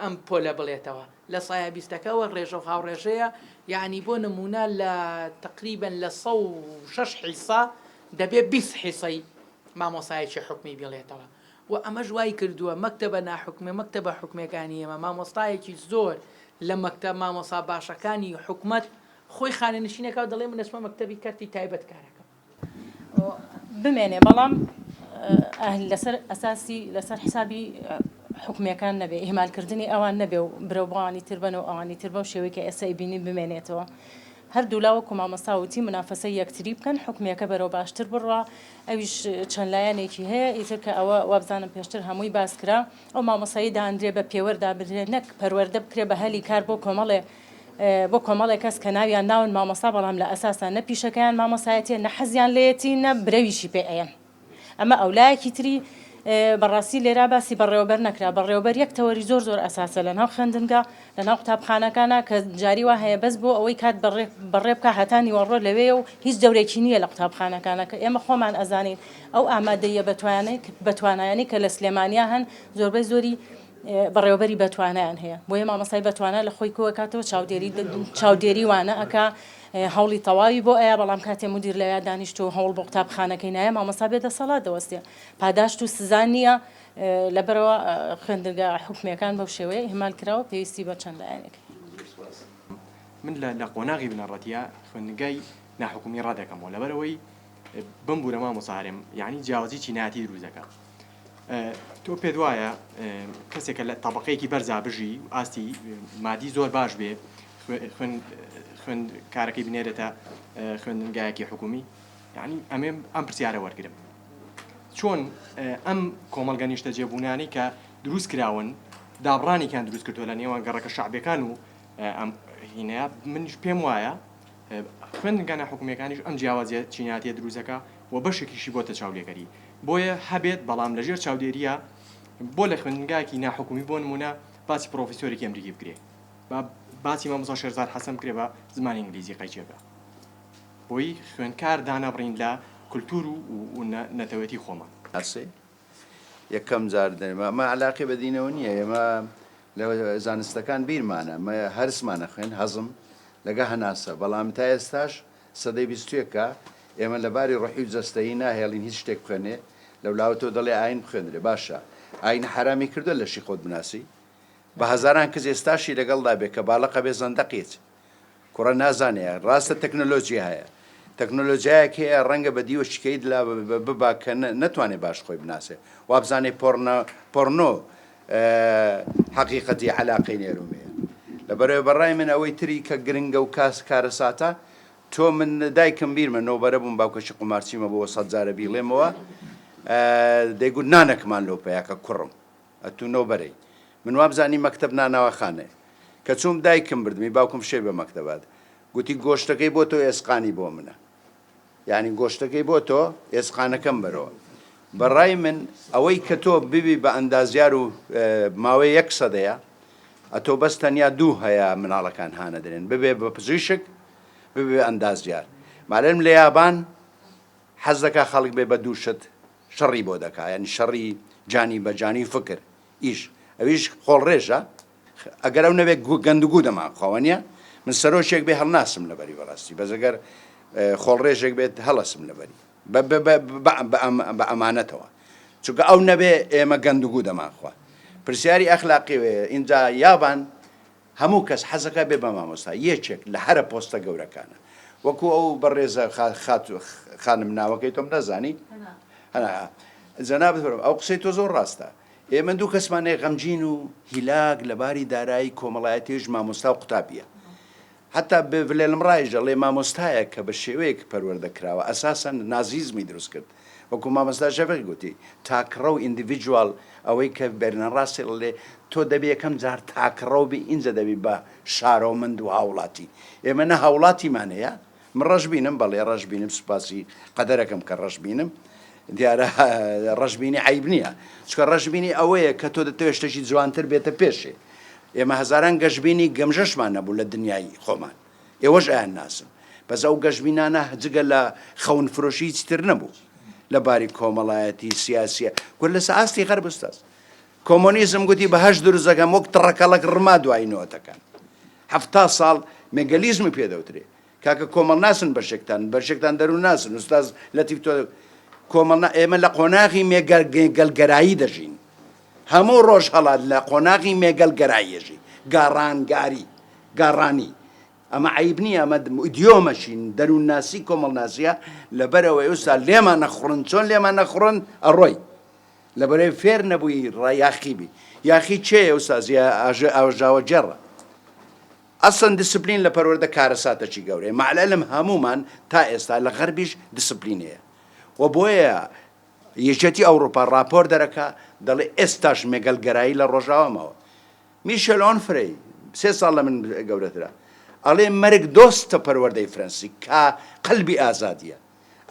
ئەم پۆلە بڵێتەوە لە سایە بیستەکەوە ڕێژەو هاوڕێژەیە یانی بۆ نمونە لە تقریبەن لە سە و شەش حیسە دەبێ بیست حیسەی مامۆسایەکی حکومی بڵێتەوە و ئەمەش وای کردووە مەکتەبە ناحکومێ مەکتەبە حکومەکانی ئێمە مامۆستایەکی زۆر لە مەکتە مامۆسا باشەکانی حکومەت خۆی خانە نشینەکە دەڵێ من دەچمە مەکتەبی کەرتی تایبەت کارەکەم بمێنێ بەڵام ئەهل لەسەر ئەساسی لەسەر حسابی حکومیەکان نەبێ ئیهمال کردنی ئەوان نەبێ و برەو بۆوانی تر بەن و ئەوانی تر بەو شێوەی کە ئێستا ئیبینی بمێنێتەوە هەردوولا وەکو مامۆستا وتی منافەسەی یەکتری بکەن حکومیەکە بەرەو باشتر بڕوا ئەویش چەند لایەنێکی هەیە ئیتر کە ئەوە وابزانم پێشتر هەمووی باس کرا ئەو مامۆسایی دانرێ بە پێوەر دابنرێ نەک پەروەردە بکرێ بە هەلی کار بۆ کۆمەڵێ بۆ کۆمەڵێک کەس کە ناویان ناون مامۆستا بەڵام لە ئەساسا نە پیشەکەیان مامۆستایەتیە نە حەزیان لێیەتی نە برەویشی پێ ئەیەن ئەمە ئەو لایەکی تری بەڕاستی لێرا باسی بەڕێوەبەر نەکرا بەڕێوەبەر یەک تەوەری زۆر زۆر ئەساسە لە ناو خوێندنگا لە ناو قوتابخانەکانە کە جاری وا هەیە بەس بۆ ئەوەی کات بەڕێ بەڕێ بکە هەتا نیوەڕۆ لەوێ و هیچ دەورێکی نییە لە قوتابخانەکانە کە ئێمە خۆمان ئەزانین ئەو ئامادەیە بەتوانێک بەتوانایانی کە لە سلێمانیا هەن زۆربەی زۆری بەڕێوەبەری بەتوانایان هەیە بۆیە مامۆستای بەتوانا لە خۆی کۆئەکاتەوە چاودێری چاودێری وانە ئەکا هەوڵی تەواوی بۆ ئەیا بەڵام کاتێ مدیر لە یا دانیشت و هەوڵ بۆ قوتابخانەکەی نایە مامۆستا بێ دەسەڵات دەوەستێ پاداشت و سزا نییە لەبەرەوە خوێندنگە حکومیەکان بەو شێوەیە ئیهمال کراوە پێویستی بە چەند لایەنێک من لە لە قۆناغی بنەڕەتیا خوێندنگای ناحکومی ڕادەکەمەوە لەبەرەوەی بمبورە مامۆسا هەرێم یعنی جیاوازی چینایەتی دروست دەکات تۆ پێت وایە کەسێک کە لە تەبەقەیەکی بەرزا بژی و ئاستی مادی زۆر باش بێ خوێ- خوێن خوێن کارەکەی بنێرێتە اه، خوێندنگایەکی حکومی یعنی ئەمێ ئەم پرسیارە وەرگرم چۆن اه، ئەم کۆمەڵگە نیشتە جێبوونانی کە دروست کراون دابڕانێکیان دروست کردووە لە نێوان گەڕەکە شعبەکان و اه، ئەم هینەیە منش پێم وایە خوێندنگا ناحکومیەکانیش ئەم جیاوازیە چینایەتیە دروست دەکا و بەشێکیشی بۆتە چاولێکەری بۆیە هەبێت بەڵام لەژێر چاودێریە بۆ لە خوێندنگایەکی ناحکومی بۆ نمونە باسی پڕۆفیسۆرێکی ئەمریکی بکرێ با باسی مامۆستا شێرزاد حەسەن بکرێ بە زمانی ئینگلیزی قەیچێکە بۆی خوێندکار دانەبڕین لە کلتور و نەتەوێتی خۆمان. ئەسێ یەکەم جار دەرێم ئەمە علاقی بە دینەوە نییە ئێمە لە زانستەکان بیرمانە مە هەرسمانە خوێن هەزم لەگە هەناسە بەڵام تا ئێستاش سەدەی بیستێکە ئێمە لە باری ڕحی و جەستەیی ناهێڵین هیچ شتێک بخوێنێ لە ولاوە تۆ دەڵێ ئاین بخوێنرێ باشە ئاین حرامی کردو لەشی خۆت بناسی بە هەزاران کز ئێستاشی لەگەڵدا بێ کە باڵەقە بێ زەندەقیت کوڕە نازانێ ڕاستە تەکنۆلۆژی هەیە تەکنۆلۆژیایەک هەیە ڕەنگە بە دیوە شکەیت لا ببا کە نەتوانێت باش خۆی بناسێ وابزانێ پۆڕنە پۆڕنۆ حەقیقەتی علاقەی نێرومەیە لە بەرەوە بەڕای من ئەوەی تری کە گرنگە و کاس کارەساتە تۆ من دایکم بیرمە نۆبەرە بووم باوکەشی قومارچیمە بۆ سەدجارە بیڵێمەوە دەیگوت نانەکمان لۆ پیاکە کوڕم ئەتوو نۆ بەرەی. من وامزانی مەکتەب نانەواخانەیە. کە چووم دایکم بردمی باوکم فشەی بە مەکتەبا دا. گوتی گۆشتەکەی بۆ تۆ ئێسقانی بۆ منە. یانی گۆشتەکەی بۆ تۆ ئێسقانەکەم بەرەوە. بە ڕای من ئەوەی کە تۆ ببی بە ئەندازیار و ماوەی یەک سەدەیە ئەتۆ بەس تەنیا دوو هەیە مناڵەکان هانەدرێن ببێ بە پزیشک ببێ ئەندازیار. مالێرم لە یابان حەز دەکا خەڵک بێ بە دوو شت شەڕی بۆ دەکا یانی شەڕی جانی بە جانی و فکر یش ئەویش خۆڵڕێژە ئەگەر ئەو نەبێ گوو گەندگوو دەمان خواوە نیە من سەرۆکێک بێ هەڵناسم لەبەری بەڕاستی بەس ئەگەر خۆڵڕێژێک بێت هەڵەسم لەبەری بە ئەمانەتەوە چونکە ئەو نەبێ ئێمە گەندگوو دەمان خوا پرسیاری ئەخلاقی وەیە ئینجا یابان هەموو کەس حەزەکا بێ بە مامۆستا یەکێک لە هەرە پۆستە گەورەکانە وەکو ئەو بەڕێزە خاتو خانم ناوەکەی تۆم نازانی هەنا جەنابت بەرم ئەو قسەی تۆ زۆر ڕاستە ئێمە دوو کەسمانەیە غەمجین و هیلاک لە باری دارایی کۆمەڵایەتیش مامۆستا و قوتابیە حتا بێ ڤلێلم ڕایژە ڵێ مامۆستایە کە بە شێوەیەک پەروەردە کراوە ئەساسەن نازیزمی دروست کرد وەکو مامۆستا شەفیق گوتی تاکڕە و ئیندیڤیدوال ئەوەی کە بێرنە ڕاسێڵ ئەلێ تۆ دەبی یەکەم جار تاکڕەو بی ئینجا دەبی بە شارۆمەند و هاوڵاتی ئێمە نە هاوڵاتیمان هەیە من ڕەشبینم بەڵێ ڕەشبینم سوپاسی قەدەرەکەم کە ڕەشبینم دیارە ڕەشبینی عیب نییە چکە ڕەشبینی ئەوەیە کە تۆ دەتەوێت شتێکی جوانتر بێتە پێشێ ئێمە هەزاران گەشبینی گەمژەشمان نەبوو لە دنیای خۆمان ئێوەش ئەیانناسن. بەس ئەو گەشبینانە جگە لە خەون فرۆشی هیچی تر نەبوو لە باری کۆمەڵایەتی، سیاسیە. گوە لە سە ئاستی غەرب ئوستاز. کۆمۆنیزم گوتی بە هەشت دروست دەکەم وەک تڕەکەڵەک ڕما دوایی نۆتەکان. حەفتا ساڵ مێگەلیزمی پێ دەوترێ. کاکە کۆمەڵناسن بەشێکتان، بەشێکتان دەروونناسن. ئوستاز لەتیف تۆ کۆمەڵنا ئێمە لە قۆناغی مێگەل گەلگەرایی دەژین. هەموو ڕۆژهەڵات لە قۆناغی مێگەل گەراییەژی، گاڕانگاری، گاڕانی، ئەمە عەیب نییە ئەمە ئیدیۆمەشی دەروونناسی کۆمەڵناسییە لەبەر ئەوەی ئوستا لێمان نەخوڕن چۆن لێمان نەخوڕن ئەڕۆی لەبەرەی فێر نەبووی ڕا یاخی بی یاخی چێ ئوستا زیا ئاژە ئاوژاوە جێڕە ئەسڵەن دیسپلین لە پەروەردە کارەساتەکی گەورەیە مەعلەلم هەموومان تا ئێستا لە غەربیش دیسپلینەیە و بۆیە یەکێتی ئەوڕوپا ڕاپۆر دەرەکا دەڵێ ئێستاش مێگەلگەرایی لە ڕۆژاوا ماوە. میشێل ئۆنفرەی سێ ساڵ لە من گەورەترە ئەڵێ مەرگ دۆستە پەروەردەی فرەنسی کا قەلبی ئازادیە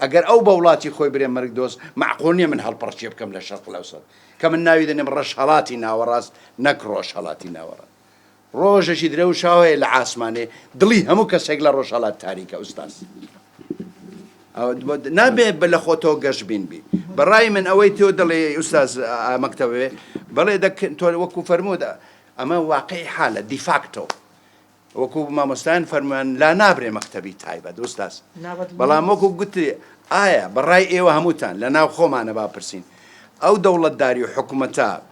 ئەگەر ئەو بە وڵاتی خۆی برێ مەرگ دۆست مەعقول نیە من هەڵپەڕکێ بکەم لە شەرق لەوسەت کە من ناوی دەنێم ڕەشهەڵاتی ناوەڕاست نەک ڕۆژهەڵاتی ناوەڕاست. ڕۆژێکی درەوشاوەیە لە عاسمانێ دڵی هەموو کەسێک لە ڕۆژهەڵات تاریکە ئوستاز نابێت بە لە خۆتەوە گەشت بین بی بەڕای من ئەوەی تۆ دڵێ ئوستاز مەکتەوێ بەڵێ تۆ وەکو فەرمودا ئەمە واقعی حالە دیفاکتۆ وەکو مامۆستایان فەرمان لا نابرێ مەکتتەبی تایبەت ئوستاز بەڵام وەکو گوتری ئایا بەڕای ئێوە هەمووتان لە ناو خۆمانە باپرسین ئەو دەوڵەتداری و حکوومەتە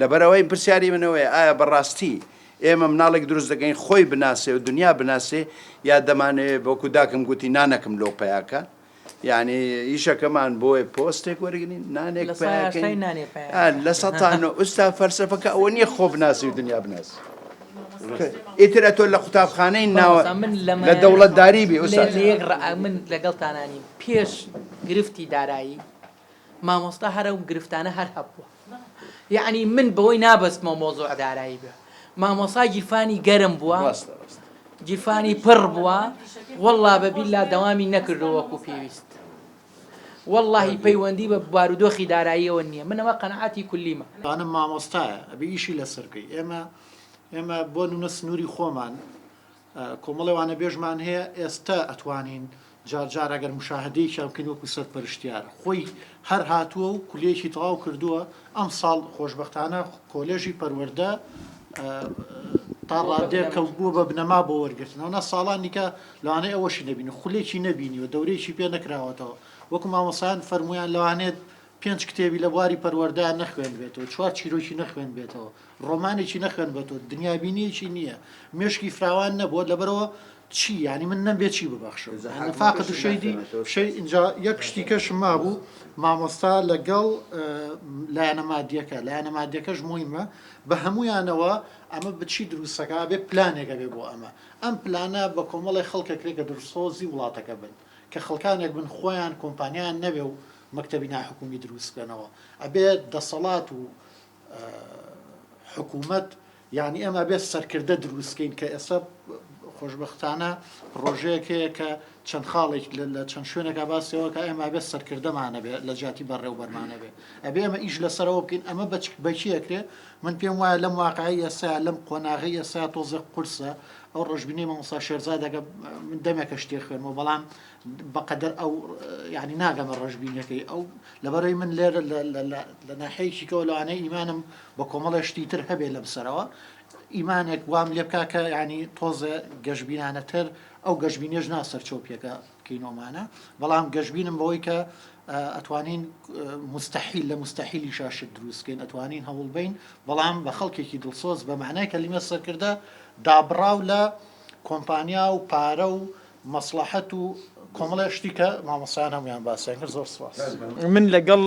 لەبەرئەوەی پرسیاری من ئەوەیە ئایا بەڕاستی ئێمە مناڵێک دروست دەکەین خۆی بناسێ و دنیا بناسێ یا دەمانەوێ بۆکو داکم گوتی نانەکم لۆ پیاکە یعنی ئیشەکەمان بۆیە پۆستێک وەرگین نانێک لە سەتان و ئوستا فەرسەفەکە ئەوە نییە خۆ بناسی و دنیا بناسی ئیتر ئەتۆ لە قوتابخانەی ناوە من لە دەوڵەتداری بێ من لەگەڵتانانی پێش گرفتی دارایی مامۆستا هەرە و گرفتانە هەر هەبووە یەعنی من بەوەی نابەستمەوە مەوزوع دارایی بێ مامۆسا گیرفانی گەرم بووە گیرفانی پڕ بووە واللە بە بیللا دەوامی نەکردو وەکو پێویست واللهی پەیوەندی بە بارودۆخی داراییەوە نییە من ئەمە قەنعاتی کولیمە دانم مامۆستایە ئەبێ ئیشی لەسەر بکەی ئێمە ئێمە بۆ نمونە سنووری خۆمان کۆمەڵێ وانەبێژمان هەیە ئێستا ئەتوانین جار جار ئەگەر مشاهدەیەکیان بکەین وەکو سەرپەرشتیار خۆی هەر هاتووە و کولێکی تەواو کردووە ئەم ساڵ خۆشببختانە کۆلێژی پەروەەردە تا ڕادێک کە بووە بە بنەما بۆ وەرگرتنەوەە ساڵانیکە لەوانەیە ئەوەشی نبینی خولێکی نبینی و دەورێکی پێ نەکراوەتەوە وەکو مامەسان فەرمویان لەوانێت پێنج کتێبی لە بواری پەروەردەیان نەخوێندبێتەوە، چوار چیرۆکی نەخوێندبێتەوە، ڕۆمانێکی نەخوێندبێتەوە، دنیابینییەکی نییە، مێشکی فراوان نەبووە، لەبەرئەوە چی؟ یانی من نەمبێ چی ببەخشم؟ یانی فاقد الشیدی شی ئینجا یەک شتی کەشم مابوو، مامۆستا لەگەڵ لایەنە مادییەکە، لایەنە مادییەکەش موهیمە، بە هەموویانەوە ئەمە بە چی دروست دەکا؟ ئەبێ پلانێک هەبێ بۆ ئەمە. ئەم پلانە بە کۆمەڵێک خەڵکێک کرێ کە دڵسۆزی وڵاتەکە بن، کە خەڵکانێک بن خۆیان کۆمپانیایان نەبێ و مەکتەبی ناحکومی دروست بکەنەوە ئەبێ دەسەڵات و حکوومەت یعنی ئەمە بێت سەرکردە دروستکەین کە ئێستا خۆشببختانە پرۆژەیەک هەیە کە چەند خاڵێک لە چەند شوێنەکە باسەوە کە ئەمە بێت سەرکردەمانەبێت لە جیاتی بەڕێوبەرمانەبێت ئەبێ ئەمە ئیش لەسەرەوە بکەین ئەمە بەچ بەچیەکرێ من پێم وایە لەم واقعی ئێستا لەم قۆناغی ئێستا تۆزە قورسە ئەو ڕژبینی مامۆسا شێرزادەکە من دەمێکە شتێ خوێنەوە بەڵام بەقەدەر ئەو یانی ناگەمە ڕەشبینیەکەی ئەو لەبەرەی من لێرە لە ناحەیەکیکەوە لەوانەیە ئیمانم بە کۆمەڵە شتی تر هەبێ لەم سەرەوە ئیمانێک وام لێ بکا کە ینی تۆزە گەشببینانەتر ئەو گەشببینێش نا سەرچەو پێکە کینۆمانە بەڵام گەشببینم بەوەی کە ئەتوانین مستحیل لە مستحیلی شاشت دروستکەین ئەتوانین هەوڵ بین بەڵام بە خەڵکێکی دڵسۆز بە معنای کەلیمە سەرکردە دابڕاو لە کۆمپانیا و پارە و مەسڵەحەت و کۆمەڵێ شتی کە مامۆستایان هەموویان باسیان کرد زۆر سپاس. من لەگەڵ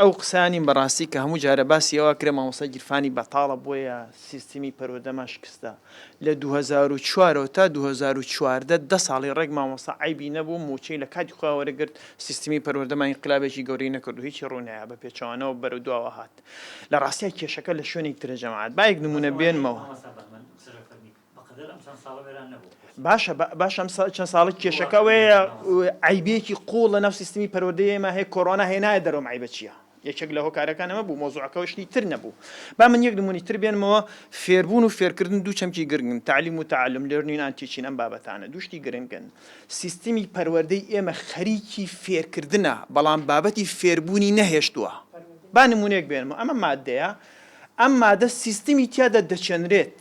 ئەو قسە نیم بەڕاستی کە هەموو جارە باسی ئەوە کرێ مامۆستا گیرفانی بەتاڵە بۆیە سیستمی پەروەدەمان شکستە لە دوو هەزار و چوار ەوە تا دوو هەزار و چواردە دە ساڵی ڕێک مامۆستا عەیبی نەبوو موچەی لە کاتی خۆیان وەرەگرت سیستمی پەروەردەمان ئینقلابێکی گەورەی نەکردو هیچی ڕوو نایە بە پێچەوانەوە بەرەو دواوە هات لە ڕاستیا کێشەکە لە شوێنێکی ترە جەماعەت با یەک نمونە بێنمەوە. بەقەدەر ئەم چەند ساڵە وێران نەبوو. باشە باشە ئەم چەند ساڵە کێشەکە ئەوەیە عیبێکی قووڵ لە ناو سیستمی پەروەردەی ئێمە هەیە کۆرۆنا هێنایە دەرەوە ئەم عیبە چییە؟ یەکێک لە هۆکارەکان ئەمە بوو مۆزوعەکەەوە شتی تر نەبوو با من یەک نمونی تر بێنمەوە فێربوون و فێرکردن دوو چەمکی گرنگن تعلیم و تعلم لێرنین ئانتیچین ئەم بابەتانە دوشتی گرنگن سیستمی پەروەردەی ئێمە خەریکی فێرکردنە بەڵام بابەتی فێربوونی نەهێشتووە با نمونێک بێنمە ئەمە مادەیە ئەم مادە سیستمی تیادا دەچێنرێت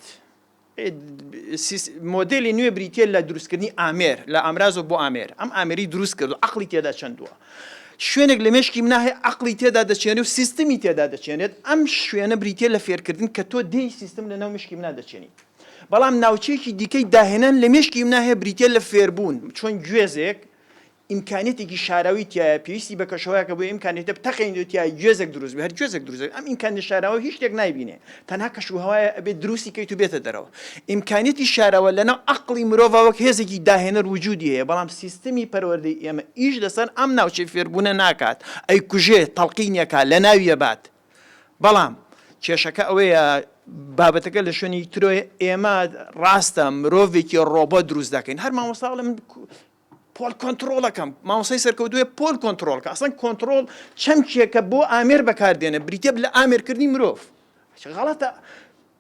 مۆدێلی نوێ بریتییە لە دروستکردنی ئامێر لە ئامرازەوە بۆ ئامێر، ئەم ئامێری دروست کرد و عەقڵی تێدا چەندووە. شوێنێک لە مێشکی منا هەیە عەقڵی تێدا دەچێنێ و سیستمی تێدا دەچێنێت، ئەم شوێنە بریتییە لە فێرکردن کە تۆ دێی سیستم لەناو مشکی منا دەچێنیت. بەڵام ناوچەیەکی دیکەی داهێنان لە مێشکی منا هەیە بریتییە لە فێربوون، چۆن گوێزێک ئیمکانیەتێکی شاراوی تیایە پێویستی بە کەشوهەوایەکە بۆ ئیمکانیەتە بتەقێنیت و تیای گوێزێک دروست بێ هەر گوێزێک دروست بێ ئەم ئیمکانیە شاراوە هیچ شتێک نایبینێ تەنها کەشوهەوایە ئەبێ دروستی کەیت و بێتە دەرەوە ئیمکانیەتی شاراوە لەناو عەقڵی مرۆڤا وەک هێزێکی داهێنەر وجودی هەیە بەڵام سیستمی پەروەردەی ئێمە ئیش لەسەر ئەم ناوچەی فێربوونە ناکات ئەیکوژێ تەڵقینی ئەکا لەناوی ئەبات بەڵام کێشەکە ئەوەیە بابەتەکە لە شوێنی ترۆی ئێمە ڕاستە مرۆڤێکی ڕۆبۆ دروست دەکەین هەر مامۆستا بڵێ من پۆل کۆنتڕۆڵەکە مامۆسای سەرکەوتوێ پۆل کۆنتڕۆڵکە ئەسڵەن کۆنتڕۆڵ چەمکێکە بۆ ئامێر بەکاردێنە بریتە لە ئامێرکردنی مرۆڤ غەڵەتە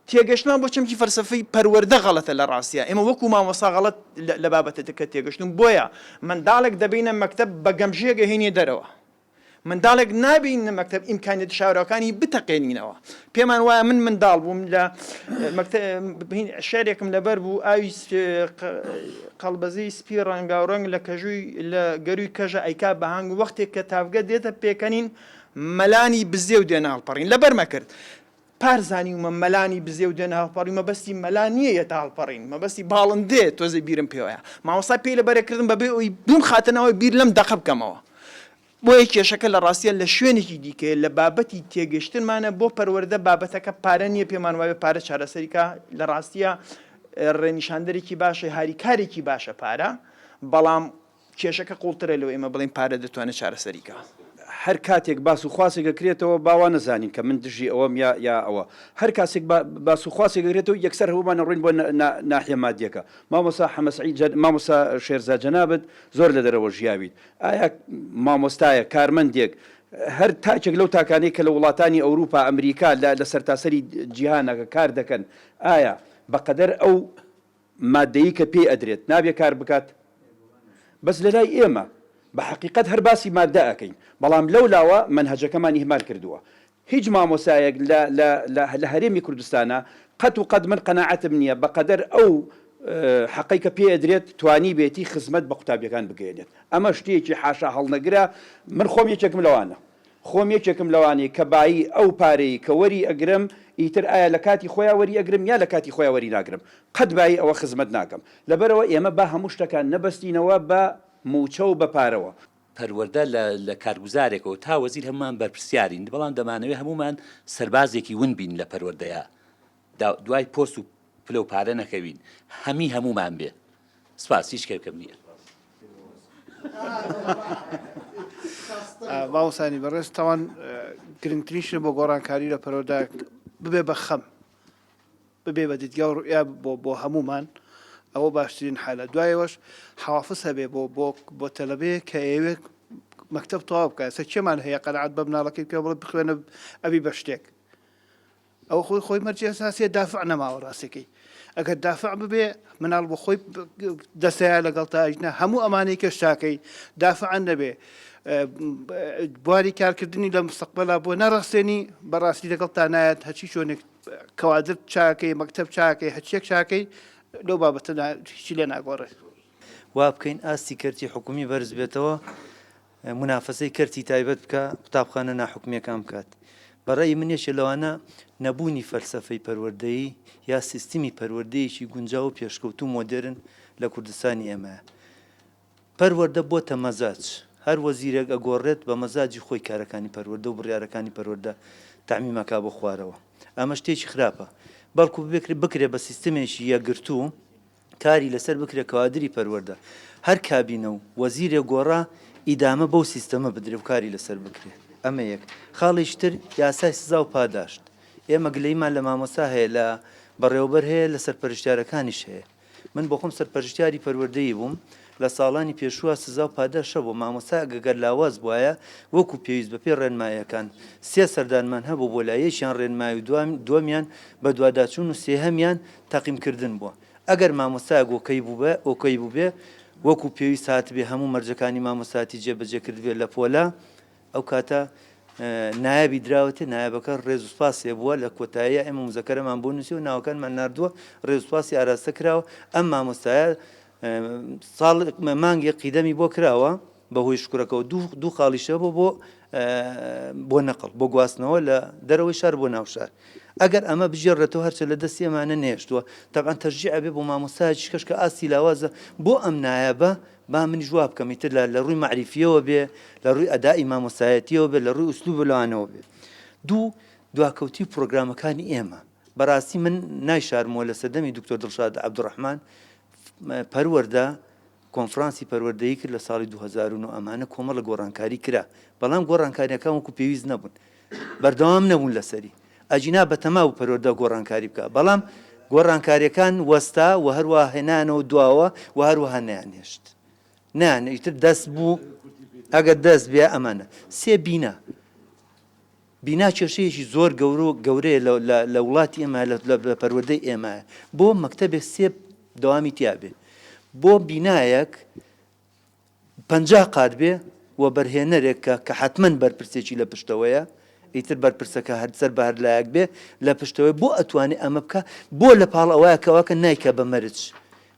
تێگەشتمان بۆ چەمکی فەرسەفەی پەروەەردە غەڵەتە لە ڕاستە ئێمە وەکو مامۆسا غەڵت لە بابەتەکە تێگەشتن بۆیە منداڵێک دەبینە مەکتب بە گەمژێگە هێنێ دەرەوە منداڵێک نابیننە مەکتەب ئیمکانیەتی شاراوەکانی بتەقێنینەوە پێمان وایە من منداڵ بووم لە شارێکم لەبەر بوو ئاوی قەڵبەزی سپی ڕەنگا و ڕەنگ لە کەژووی لە گەروی کەژە ئەیکا بەهنگ وەختێک کە تاافگە دێتە پێکەنین مەلانی بزێ و دێناڵپەڕین لەبەرمە کرد پار زانیومە مەلانی بزێ و دێنە هەڵپەڕین مەبەستی مەلا نییە یەتە هەڵپەڕین مەبەستی باڵندەیە تۆزێ بیرم پێوەیە مامۆستا پێی لەبەرێ کردم بەبێ ئەوی بیمخاتە ناوەوەی بیر لەم دەقە بکەمەوە بۆیە کێشەکە لە ڕاستیا لە شوێنێکی دیکەیە لە بابەتی تێگەشتنمانە بۆ پەروەردە بابەتەکە پارە نییە پێمان وایە پارە چارەسەری کا لە ڕاستیە ڕێنیشاندەرێکی باشە هاریکارێکی باشە پارە بەڵام کێشەکە قوڵترە لەوەی ئێمە بڵێین پارە دەتوانێت چارەسەری کات. هەر کاتێک باس و خواسێک ئەکرێتەوە با وا نەزانین کە من دژی ئەوەم یا یا ئەوە. هەر کاسێک با باس و خواسێک ئەکرێتەوە یەکسەر هەموومان ئەڕۆین بۆ نا نا ناحیە مادیەکە. مامۆستا حەمە سەعید جە مامۆستا شێرزا جەنابت زۆر لە دەرەوە ژیاویت. ئایا مامۆستایەک، کارمەندێک، هەر تاکێک لەو تاکانەی کە لە وڵاتانی ئەوروپا، ئەمریکا لە لە سەرتاسەری جیهانەکە کار دەکەن ئایا بە قەدەر ئەو، مادەیی کە پێی ئەدرێت نابێ کار بکات بەس لەلای ئێمە بە حەقیقەت هەر باسی مادە ئەکەین بەڵام لەو لاوە مەنهەجەکەمان ئیهمال کردووە هیچ مامۆسایەک لە لە لە لە هەرێمی کوردستانا قەت و قەت من قەناعەتم نییە بە قەدەر ئەو حەقەی کە پێی ئەدرێت توانیبێتی خزمەت بە قوتابیەکان بگەیەنێت ئەمە شتێکی حاشا هەڵنەگرە من خۆم یەکێکم لەوانە. خۆم یەکێکم لەوانەی کە بایی ئەو پارەی کە وەری ئەگرم ئیتر ئایا لە کاتی خۆیا وەری ئەگرم یا لە کاتی خۆیا وەری ناگرم قەت بایی ئەوە خزمەت ناکەم لەبەرئەوە ئێمە با هەموو شتەکان نەبەستینەوە بە موچە و بە پارەوە. پەروەردە لە لە کارگوزارێکەوە تا وەزیر هەموومان بەرپرسیارین بەڵام دەمانەوێ هەموومان سەربازێکی ون بین لە پەروەردەیا. دوای پۆست و پلەو پارە نەکەوین هەمی هەموومان بێ سپاس هیچ کەرکم نییە. باوەسانی بەڕێز تاوان گرنگترین شتە بۆ گۆڕانکاری لە پەرۆدا ببێ بە خەم ببێ بە دیدگا و ڕوئیا بۆ بۆ هەمومان ئەوە باشترین حالە دوایەوەش حوافز هەبێ بۆ بۆ بۆ تەلەبەیە کە ئێوێ مەکتب تەواو بکە سە چێمان هەیە قەنعات بە مناڵەکەی پێ بڵێ بخوێنە ئەبی بە شتێک ئەوە خۆی خۆی مەرجی ئەساسیە دافع نەماوە ڕاستەکەی ئەگەر دافع ببێ مناڵ بۆ خۆی دەستەیە لەگەڵ تا ئەژنە هەموو ئەمانەی کەش تاکەی دافعان نەبێ بواری کارکردنی لە مستەقبلا بۆ نەڕاستێنی بەڕاستی لەگەڵ تا نایەت هەچی چۆنێک کەوادر چاکەی مەکتب چاکەی هەچیەک چاکەی لەو بابەتەدا هیچی لێ ناگۆڕێت وا بکەین ئاستی کەرتی حکومی بەرز بێتەوە منافەسەی کەرتی تایبەت بکا قوتابخانە ناحکومیەکان بکات بەڕێی من یەکێ لەوانە نەبوونی فەلسەفەی پەروەردەیی یا سیستمی پەروەردەیەکی گونجاو و پێشکەوتو مۆدێرن لە کوردستانی ئێمە پەروەردە بۆ تە مەزاج هەر وەزیرێک ئەگۆڕێت بە مەزاجی خۆی کارەکانی پەروەردە و بڕیارەکانی پەروەردە تامیمەکە بۆ خوارەوە ئەمە شتێکی خراپە بەڵکو بکرێت بە سیستمێکی یەکگرتوو کاری لەسەر بکرێ کەوادری پەروەردە هەر کابینە و وەزیرێک گۆڕا ئیدامە بەو سیستەمە بدرێ و کاری لەسەر بکرێ ئەمە یەک خاڵیش تر یاسای سزا و پاداشت ئێمە گلەیمان لە مامۆستا هەیە لە بەڕێوەبەر هەیە لە سەرپەرشتیارەکانیش هەیە من بۆ خۆم سەرپەرشتیاری پەروەردەیی بووم لە ساڵانی پێشووە سزا و پاداشە بۆ مامۆستا گەگەر لاواز بواە وەکو پێویست بە پێ ڕێنمایەکان سێ سەردانمان هەبوو بۆ لایەکیان ڕێنمای و دومیان بەدواداچوون و سێهەمیان تەقیم کردن بووە ئەگەر مامۆستایەک ئۆکەی بووبێ ئۆکەی بووبێ وەکو پێویست هاتبێ هەموو مەرجەکانی مامۆستایەتی جێ بەجێ کردبێ لە پۆلە ئەو کاتە نایابی دراوەتێ نایابەکە ڕێز و سپاس لێ بووە لە کۆتاییە ئێمە مزەکەرەمان بۆ نووسی و ناوەکانمان نردووە ڕێز و سپاسی ئاراستە کراوە ئەم مامۆستایە ساڵ مانگێک قیدەمی بۆ کراوە بە هۆی شکرەکەەوە دوو دوو خاڵیشە بۆ بۆ بۆ نەقل بۆ گواستنەوە لە دەرەوەی شار بۆ ناوشار ئەگەر ئەمە بژێڕێتەوە هەرچە لە دەستی ئەمانە نێشتووە تەبان تەژیع بێ بۆ مامۆستایش کەش کە ئاستی لاوازە بۆ ئەم نایەبە با من جواب بکەم ئیتر لە ڕووی معریفیەوە بێ لە ڕووی ئەدای مامۆسایەتیەوە بێ لە ڕووی ئوسلوب لەوانەوە بێ دوو دواکەوتی پرۆگرامەکانی ئێمە بەراستی من نایشارمەوە لە سەردەمی دکتۆر دڵشاد عبدالرحمان پەروەردە کۆنفرانسی پەروەردەیی کرد لە ساڵی 2009 ئەمانە کۆمەڵە گۆڕانکاری کرا بەڵام گۆڕانکاریەکان وەکو پێویست نەبوون بەردەوام نەبوون لەسەری ئەجینا بەتەما و پەروەردە گۆڕانکاری بکە بەڵام گۆڕانکاریەکان وەستا و هەروە هێنانەوە دواوە و هەروەها نیان هێشت نیان ئیتر دەست بوو ئەگەر دەست بێ ئەمانە سێ بینە بینا کێشەیەکی زۆر گەورە و گەورەیە لە لە لە وڵاتی ئێمە لە لە پەروەردەی ئێمە بۆ مەکتەبێ سێ دەوامی تیا بێ بۆ بینایەک پەنجا قات بێ وەبەرهێنەرێک کە کە حەتمەن بەرپرسێکی لە پشتەوەیە ئیتر بەرپرسەکە هەر سەر بە هەر لایەک بێ لە پشتەوەی بۆ ئەتوانێ ئەمە بکە بۆ لە پاڵ ئەوە کەواکە نایکە بە مەرج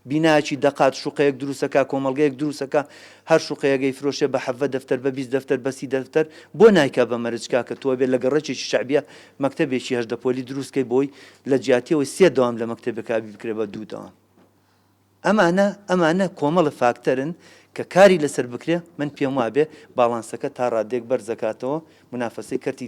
بینایەکی دەقات شوقەیەک دروستەکا کۆمەڵگەیەک دروستەکا هەر شوقەیەک ئەیفرۆشێ بە حەڤە دەفتەر بە بیست دەفتەر بە سی دەفتەر بۆ نایکا بە مەرج کاکە تۆ ئەبێ لە گەڕەکێکی شەعبیە مەکتەبێکی هەژدە پۆلی دروست کەی بۆی لە جیاتی ئەوەی سێ دەوام لە مەکتەبێکا ئەبی بکرێ بە دوو دەوام ئەمانە ئەمانە کۆمەڵە فاکتەرن کە کاری لەسەر بکرێ من پێم وابێ باڵانسەکە تا ڕاددێک بەرز دەکاتەوە منافەسەی کەرتی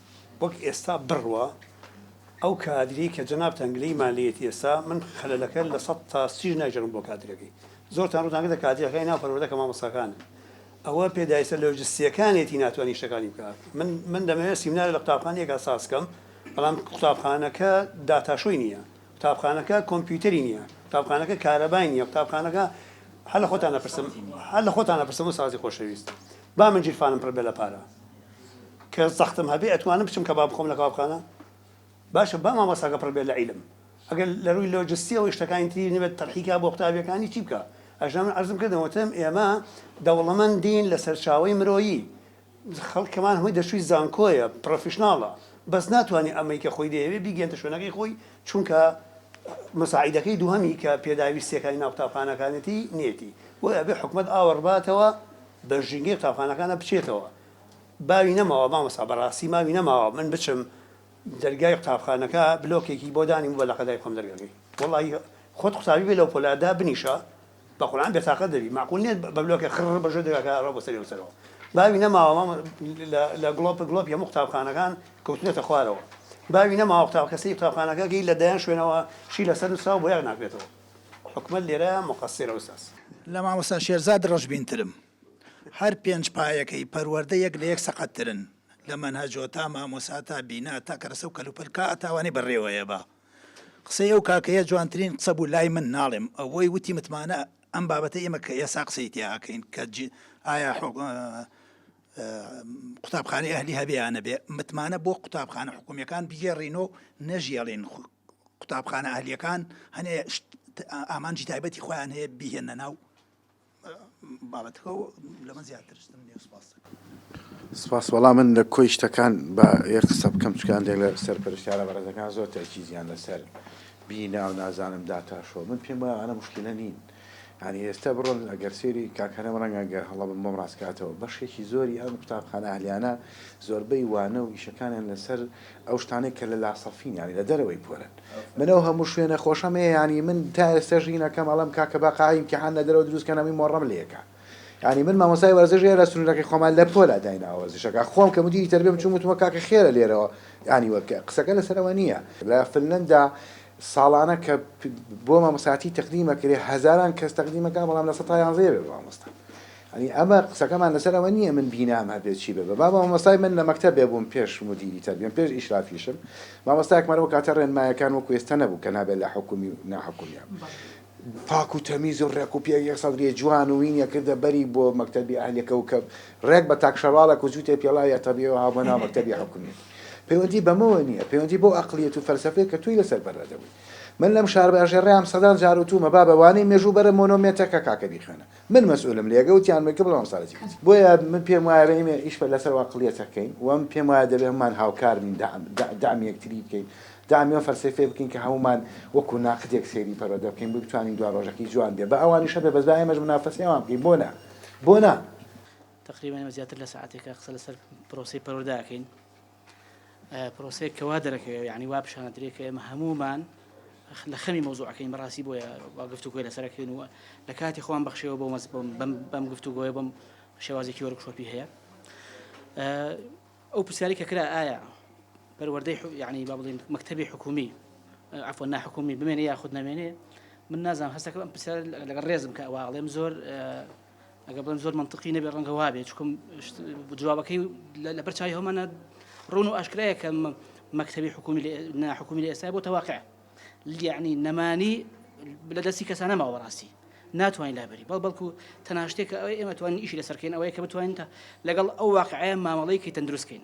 وەک ئێستا بڕە ئەو کادرەی کە جەنابتان گلەیمان لێیەتی ئێستا من خەلەلەکە لە سەد تا سیش ناگێڕم بۆ کادرەکەی زۆرتان ڕوتان کردە کادرەکانی ناو پەروەردە کە مامۆستاکانن ئەوە پێداویستە لۆجستیەکانێتی ناتوانانی شتەکانی بکات من من دەمەوێت سیمینارێک لە قوتابخانەیەکا ساز کەم بەڵام قوتابخانەکە داتاشۆی نییە قوتابخانەکە کۆمپیوتەری نییە قوتابخانەکە کارەبای نییە قوتابخانەکە هەر لە خۆتان نەپرسم هەر لە خۆتان نەپرسم و سازی خۆشەویست با من گیرفانم پڕ بێ لە پارە کە زەختم هەبێ ئەتوانم بچم کەباب بخۆم لە کەبابخانە؟ باشە با مامۆستاکە پڕ بێت لە عیلم ئەگەر لە رووی لۆجستیەوەی شتەکانی تری نەبێت تەرحی کا بۆ قوتابیەکانی چی بکا؟ ئەژنۆ من عەرزم کردم وتم ئێمە دەوڵەمەندین لە سەرچاوەی مرۆیی خەڵکەمان هەمووی دەرچووی زانکۆیە پڕۆفیشناڵە بەس ناتوانێ ئەمەی کە خۆی دەیەوێ بیگەیەنتە شوێنەکەی خۆی چونکە مساعیدەکەی دووهەمی کە پێداویستیەکانی ناو قوتابخانەکانێتی نیەتی بۆیە ئەبێ حکومەت ئاوڕباتەوە بە ژینگەی قوتابخانەکانا بچێتەوە. باوی نەماوە مامۆستا بەڕاستی ماوی نەماوە من بچم دەرگای قوتابخانەکە بلۆکێکی بۆ دانیبوو بە لەقەدای خۆم دەرگەکەی وەڵاهی خۆت قوتابی بێ لەو پۆلە دابنیشە بە قورعان بێتاقەت دەبی مەعقول نیە بە بلۆکێ خڕ بە ژێر دەرگاکە ئەڕۆ بۆ سەری و سەرەوە باوی نەماوە مامۆ لە لە گڵۆپ گڵۆپی هەموو قوتابخانەکان کەوتونەتە خوارەوە باوی نەماوە قوتابخانە سەری قوتابخانەکەکەی لە دەیان شوێنەوە شی لەسەر نووسراوە بۆیاغ ناکرێتەوە. حکومەت لێرە موقەسیرە ئوستاز. لە مامۆستا شێرزاد ڕەشبین ترم. هەر پێنج پایەکەی پەروەردە یەک لە یەک سەقەت ترن. لە مەنهەجۆ تا مامۆسا تا بینا تا کەرەسە و کەلوپەل کا ئەتاوانەی بە رێوەیە با. قسەی ئەو کاکەیە جوانترین قسە بوو لای من ناڵێم ئەوەی وتی متمانە ئەم بابەتە ئێمە کە ئێسا قسەی تیا ئەکەین کە جی ئایا حو قوتابخانەی ئەهلی هەبێ یا نەبێ متمانە بۆ قوتابخانە حکومیەکان بگێڕینۆ نەژیێڵین قوتابخانە ئەهلیەکان هەنێ ئامانجی تایبەتی خۆیان هەیە بیهێنە ناو بابەتەکە لەمە زیاترستم نێ سپاس سپاس وەڵام من لە کۆی شتەکان بە یەک قسە بکەم چکان دێک لە سەر پرسیارە بەڕێزەکان زۆر تاکیزیان لەسەر بیناو نازانم داتاشۆ من پێم وایە ئەە مشکلە نین یانی ئێستا بڕۆن ئەگەر سێری کاک هەرەم ڕەنگە گەر هەڵە بم بۆم ڕاست کاتەوە بەشێکی زۆری ئەم قوتابخانە ئەهلیانە زۆربەی وانە و ئیشەکانیان لەسەر ئەو شتانەی کە لە لاسەفین یانی لە دەرەوەی پۆلن من ئەو هەموو شوێنە خۆشەم هەیە یانی من تا ئێستا ژینەکەم ئەڵم کاکە با قاعی امتحان لە دەرەوە دروستکەن هەمووی مۆڕەم لەکە یعنی من مامۆسای وەرزش هەیە لە سنوورەکەی خۆمان لە پۆلا داینا وەرزشەکە خۆم کە مدیری تربێم چون وتمە کاکە خێرە لێرەوە ینی وەکە قسەکە لەسەرەوە نییە لە فنلندا ساڵانە کە بۆ مامۆستاتی تەقدیم ئەکرێ هەزاران کەس تەقدیم ئەکا بەڵام لە سەد تا یانزە یەوێ بە مامۆستا ئەنی ئەمە قسەکەمان لەسەر ئەوە نییە من بینام هەبێت چی بێ با مامۆستای من لە مەکتەب بێ بووم پێش مدیری تەربیەم پێش ئیشرافیشم مامۆستایەکمان ئەو کاتە ڕێنمایەکان وەکو ئێستا نەبوو کە نابێت لە حکومی و ناحکومیان پاک و تەمیز و ڕێک و پێک یەک سەدری جوان و وینێ کردە بەری بۆ مەکتەبی ئەهلی کەوکەب ڕێک بە تاک شەرواڵەک و جووتێ پێڵاوی ئەتەبیەوە هاو بۆ ناو مەکتەبی حوکمیەت پەیوەندی بەمەوە نیە پەیوەندی بەو ئەقڵیەت و فەلسەفەیە کە تۆی لەسەر بەر ئەدەبووی من لەم شارباژێڕەیام سەدان جار وتوومە بابە وانەی مێژوو بەرە مۆنۆمێتەکە کاکە بیخوێنە من مەسئولم لێگە وتیان مەکە بڵام سەرەتی وت بۆیە من پێم وایە رەحیمێ ئیش پە لەسەر وا قڵیەتە کەین وەم پێم وایە دەبێ هەمان هاوکار بین دەعم دەعم یەکتری بکەین دەعمی و فەلسەفەی بکەین کە هەمومان وەکو ناقدێک سەیری پەروەدە بکەین بۆ بتوانین دوا ڕۆژەکەی جوان بێ بە ئەوانیش هەبێ بەس با ئێمەش منافەسەی ئەوان بکەین بۆ نا بۆ نا تقریبا ئێمە زیاتر لە سەعاتێکە قسە لەسەر پرۆسەی پەروەردە ئەکەین پرۆسەیەک کە وا دەرەکەوێ یعنی وا پیشانە درێ کە ئێمە هەمومان لە خەمی مۆزوعەکەین بەڕاستی بۆیە وا گفتوگۆی لەسەرەکەین و لە کاتی خۆم بەخشەوە بۆ مەز بەم گفتوگۆیە بم شێوازێکی وەرکشۆپی هەیە ئەو پرسیاری کە کرا ئایا پەروەردەی یعنی با بڵین مەکتتەبی حکومی عفو ناحکومی بمێنێ یاخود نامێنێ من نازانم هەستەکە ئەم پرسیار لەگەڵ ڕێزم کە واڵێم زۆر ئەگەر بڵێم زۆر منطقی نەبێت ڕەنگە وابێت چکم جوابەکەی لەبەر چای هەمانە ڕون و ئاشکرایە کە مەکتتەبی حکومی ناحکومی لە ئێستا بۆ تەواقع لیعنی نەمانی لە دەستی کەسانە ماوە ڕاستی ناتوانین لابری بەڵ بەڵکو تەناشتێکە ئەوەی ئێمە توانین ئیشی لەسەرکەین ئەوەیە کە بتوانین لەگەڵ ئەو واقعەیە مامەڵەیەکی تەندروستکەین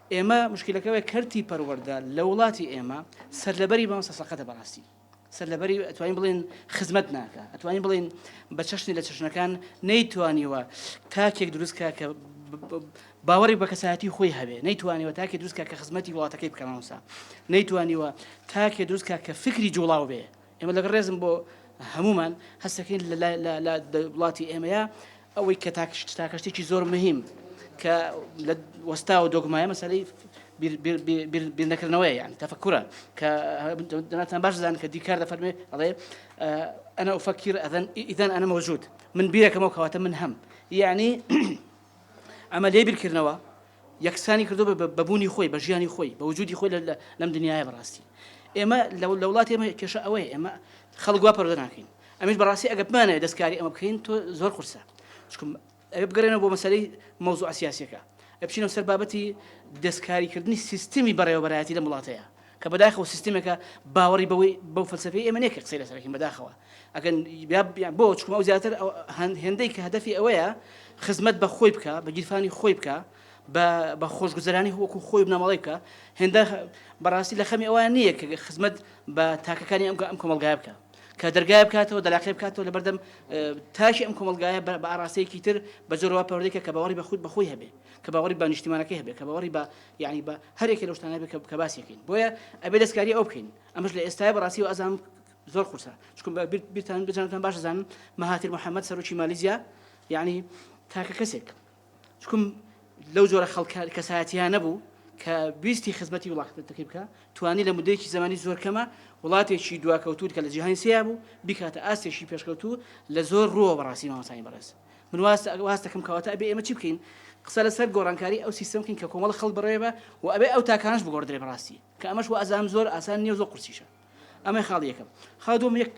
ئێمە مشکیلەکە ئەوەیە کەرتی پەروەردە لە وڵاتی ئێمە سەرلەبەری مامۆستا سەقەتە بەڕاستی سەرلەبەری ئەتوانین بڵێن خزمەت ناکە ئەتوانین بڵێن بە چەشنی لە چەشنەکان نەیتوانیوە تاکێک دروستکە کە باوەڕێک بە کەسایەتی خۆی هەبێ نەیتوانیوە تاکێ دروستکە کە خزمەتی وڵاتەکەی بکەمەوسا نەیتوانیوە تاکێ دروستکە کە فکری جوڵاو بێ ئێمە لەگەڵ ڕێزم بۆ هەموومان، هەست دەکەین لە وڵاتی ئێمەیە ئەوەی کە تاکە شتێکی زۆر مهیم کە لە وەستا و دۆگمایە مەسەلەی بیرنەکردنەوەی یان تەفکرە کە دەناتان باش دەزان کە دیکار دەفەرمێ ئەڵێ ئەنا ئوفەکیر ئەدەن ئیدەن ئەنە مەوجود من بیرەکەمەوە کەواتە من هەم یعنی عملیە بیرکردنەوە یەکسانی کردوە بە بە بوونی خۆی بە ژیانی خۆی بە وجودی خۆی لە لەم دنیایە بەڕاستی ئێمە لە لە وڵاتی ئێمە کێشە ئەوەیە ئێمە خەڵک وا پەروەدە ناکەین ئەمیش بەڕاستی ئەگە بمانەوێت دەستکاری ئەمە بکەین تۆ زۆر قورسە چکم ئەوێ بگەرێنەوە بۆ مەسەلەی مەوزوع سیاسیەکە ئەبچینەوە سەر بابەتی دەستکاریکردنی سیستمی بەڕێوەبەرایەتی لەم وڵاتەیە کە بەداخەوە سیستمێکە باوەڕی بەوەی بەو فەلسەفەی ئێمە نیە کە قسەی لەسەر بکەین بەداخەوە ئەگەن بۆ چکم ئەو زیاتر هێندەی کە هەدەفی ئەوەیە خزمەت بە خۆی بکە بە گیرفانی خۆی بکە بە خۆشگوزەرانی وەکو خۆی بنەمەڵی بکە هێندە بەڕاستی لە خەمی ئەوان نییە کە خزمەت بە تاکەکانی ئەم ئەم کۆمەلگای بکە کە دەرگای بکاتەوە دەلاقی بکاتەوە لە بەردەم تاشی ئەم کۆمەلگایە بە ئاراستەیەکی تر بە زۆرەوە پەردێکە کە باوەڕی بە خود بەخۆی هەبێ کە باوەڕی بە نیشتیمانەکەی هەبێ کە باوەڕی بە یعنی بە هەرێکی لە شتانە بکە کە باسیەکەین بۆیە ئەبێ دەستکاری ئەو بکەین ئەمەش لە ئێستای بەڕاستی و ئازام زۆر قورسە چکم بە بیرتان بجانتان باش زانم مەهاتر محەممەد سەرۆکی مالیزیا یعنی تاکە کەسێک چکم لەو جۆرە خەڵکار کەسایەتیان نەبوو کە بیستی خزمەتی وڵاتەکەی بکە توانی لە مدەیەکی زمانی زۆر کەمە وڵاتێکی دواکەوتوت کە لە جیهانی سیا بوو بیکاتە ئاستێکی پێشکەوتوو لە زۆر ڕووە بەڕاستی مامەسانی بەڕێز من واز واز دەکەم کەواتە ئەبێ ئێمە چی بکەین قسە لەسەر گۆڕانکاری ئەو سیستم بکەین کە کۆمەڵ خەڵک بڕێوێ بە و ئەبێ ئەو تاکانەش بگۆڕدرێ بەڕاستی کە ئەمەش وازانم زۆر ئاسان نییە و زۆر قورسیشە ئەمەی خاڵ یەکەم خاڵ دوم یەک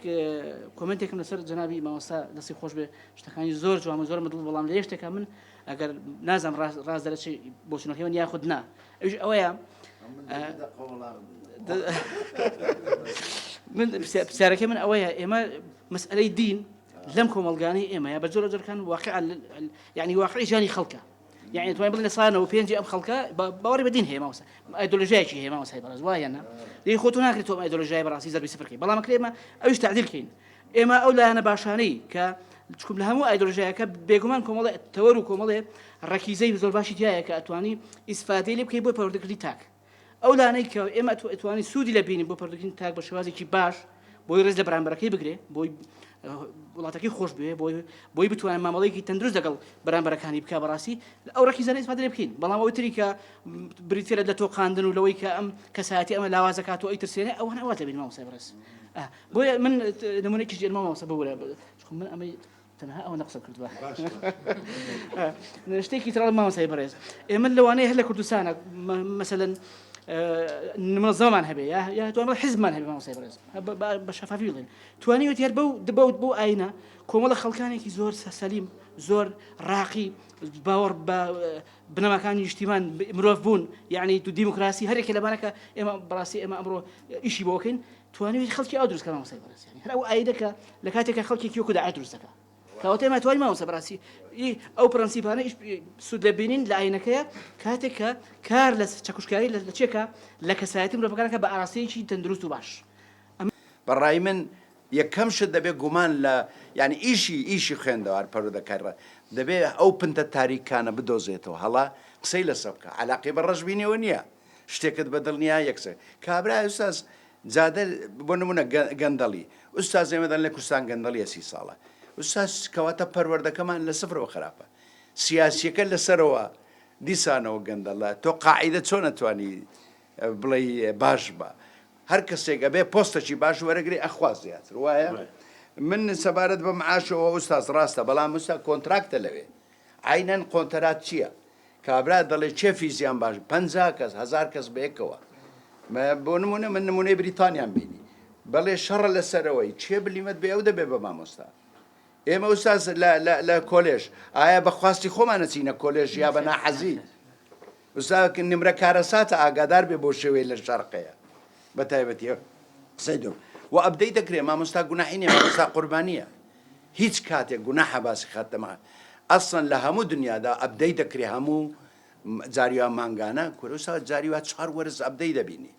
کۆمنتێکم لەسەر جنابی مامۆستا دەستی خۆش بێ شتەکانی زۆر جوان و زۆر مدڵ بەڵام لە یەشتێکە من ئەگەر نازم ڕاست دەرەچی بۆچونەکەی من یاخود نا ئەوش ئەوەیە من پرسیارەکە من ئەوەیە ئێمە مەسئلەی دین لەم کۆمەڵگانەی ئێمەیە بە جۆرە جۆرکان واقعا یعنی واقعی ژانی خەڵکە یعنی توای بڵێ لە سانەوە پێنجی ئەم خەڵکە باوەڕی بە دین هەیە ماوسە ئایدۆلۆژیایکی هەیە ماوسای بەڕێز وایە نا لێ خۆتو ناکرێت تۆم ئایدۆلۆژیای بەڕاستی زەربی سفر کەی بەڵام کرێمە ئەوش تعدیل کەین ئێمە ئەو لایەنە باشانەی کە چکم لە هەموو ئایدۆلۆژیایەکە بێگومان کۆمەڵێ تەوەر و کۆمەڵێ ڕەکیزەی زۆر باشی تایە کە ئەتوانی ئیسفادەی لێ بکەی بۆ پەروەردەکردنی تاک ئەو لانەی کە ئێمە توانین سوودی لێ بینین بۆ پەروەردەکردنی تاک بە شێوازێکی باش بۆی ڕێز لە بەرامبەرەکەی بگرێ بۆی وڵاتەکەی خۆش بوێ بۆی بۆی بتوانێت مامەڵەیەکی تەندروست لەگەڵ بەرامبەرەکانی بکە بەڕاستی ئەو ڕەکی زانست فادرێ بکەین بەڵام ئەوەی تری کە بریتێرە لە تۆقااندن و لەوەی کە ئەم کەسایەتی ئەمە لاوازەکات و ئەی ترسێنێ ئەوان ئەوات لەبین مامۆسای بەڕێز بۆیە من نمونێکی ژێرمە مامۆسە ببورە من ئەمەی تەنها ئەوەندە قسە کردوە شتێکی ترڵ مامەسای بەڕێز ئێمە لەوانەیە هەر لە کوردستانە مەسەن نمە زەمان هەبێ یا توانە حزمان هەبێ مامەسای بەڕێز بە شەفافی بڵێن توانیوێت هەر بەو دبوت بۆ ئاینە کۆمەڵە خەڵکانێکی زۆر سەسەلیم زۆر ڕاقی باوەڕ بە بنەماکانی نیشتیمان مرۆڤ بوون یعنی تو دیموکراسی هەرێکی لەبارەکە ئێمە بڕاستی ئێمە ئەمڕۆ ئیشی بۆکەین توانیویت خەڵکی ئاو دروستکە مامۆستای بەڕێز یانی هەر ئەو ئایدە کە لە کاتێکە خەڵکێکی وەکو داعش دروست دەکا کەواتە ئێمە توانین مامۆستا بەڕاستی ئەو پرەنسیپانە سوود لە بینین لە ئاینەکەیە کاتێک کە کار لە چەکوشکاری لە چێکە لە کەسایەتی مرۆڤەکانەکە بە ئاراستەیەکی تەندروست و باش بەڕای من یەکەم شت دەبێ گومان لە یعنی ئیشی ئیشی خوێندەوار پەرودەکەرە دەبێ ئەو پنتە تاریکانە بدۆزێتەوە هەڵە قسەی لەسە بکە علاقی بە ڕەشبینیەوە نییە شتێکت بە دڵ نیە یەکسەر کابرای ئوستاز جادە بۆ نمونە گەندەڵی ئوستاز ئێمە دەن لە کوردستان گەندەڵیە سی ساڵە ئوستاز کەواتە پەروەردەکەمان لە سفرەوە خراپە سیاسیەکە لەسەرەوە دیسانەوە گەندەڵە تۆ قاعدە چۆن ئەتوانی بڵێ باش بە هەر کەسێک ئەبێ پۆستەکی باش وەرەگری ئەخواز زیاتر وایە من سەبارەت بە معاشەوە ئوستاز ڕاستە بەڵام مسا کۆنتراکتە لەوێ عەینەن قۆنتەرات چیە کابرا دەڵێ چێ فیزیان باش پەنجا کەس هەزار کەس بەیەکەوە مە بۆ نمونە من نمونەی بریتانیان بینی بەڵێ شەڕە لەسەرەوەی چێ بلیمەت بێ ئەو دەبێ بە مامۆستا ئێمە ئوستاز لە کۆلێژ ئایا بە خواستی خۆمانە چینە کۆلێژ یا بە ناحەزی استاد نمرە کارەساتە ئاگادار بێ بۆ شێوەی لە شەرقەیە بە تایبەتیە قسەی دو و ئەبدەی دەکرێ مامۆستا گوناحی نیە مامۆستا قوربانیە هیچ کاتێک گوناحە باسی خاتەمە ئەسڵەن لە هەموو دنیادا ئەبدەی دەکرێ هەموو جاریوا مانگانە کورە استاد جاریوا چوار وەرز ئەبدەی دەبینی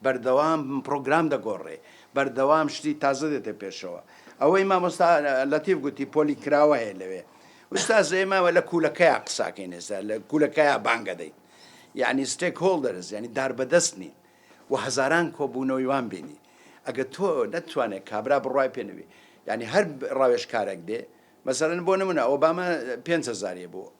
بەردەوام پڕۆگرام دەگۆڕێ، بەردەوام شتی تازە دێتە پێشەوە. ئەوەی مامۆستا لەتیف گوتی پۆلی کراوە هەیە لەوێ. ئوستاز ئێمە لە کوولەکەیا قساکەین ئێستا، لە کوولەکەیا بانگە دەین. یانی ستێک هۆڵدەرز یانی داربەدەست نین و هەزاران کۆبوونەوەی وان بینی. ئەگەر تۆ نەتتوانێ کابرا بڕوای پێ نەبی. یانی هەر ڕاوێژکارێک بێ، مەسەلەن بۆ نموونە ئۆباما پێنج هەزاری بوو.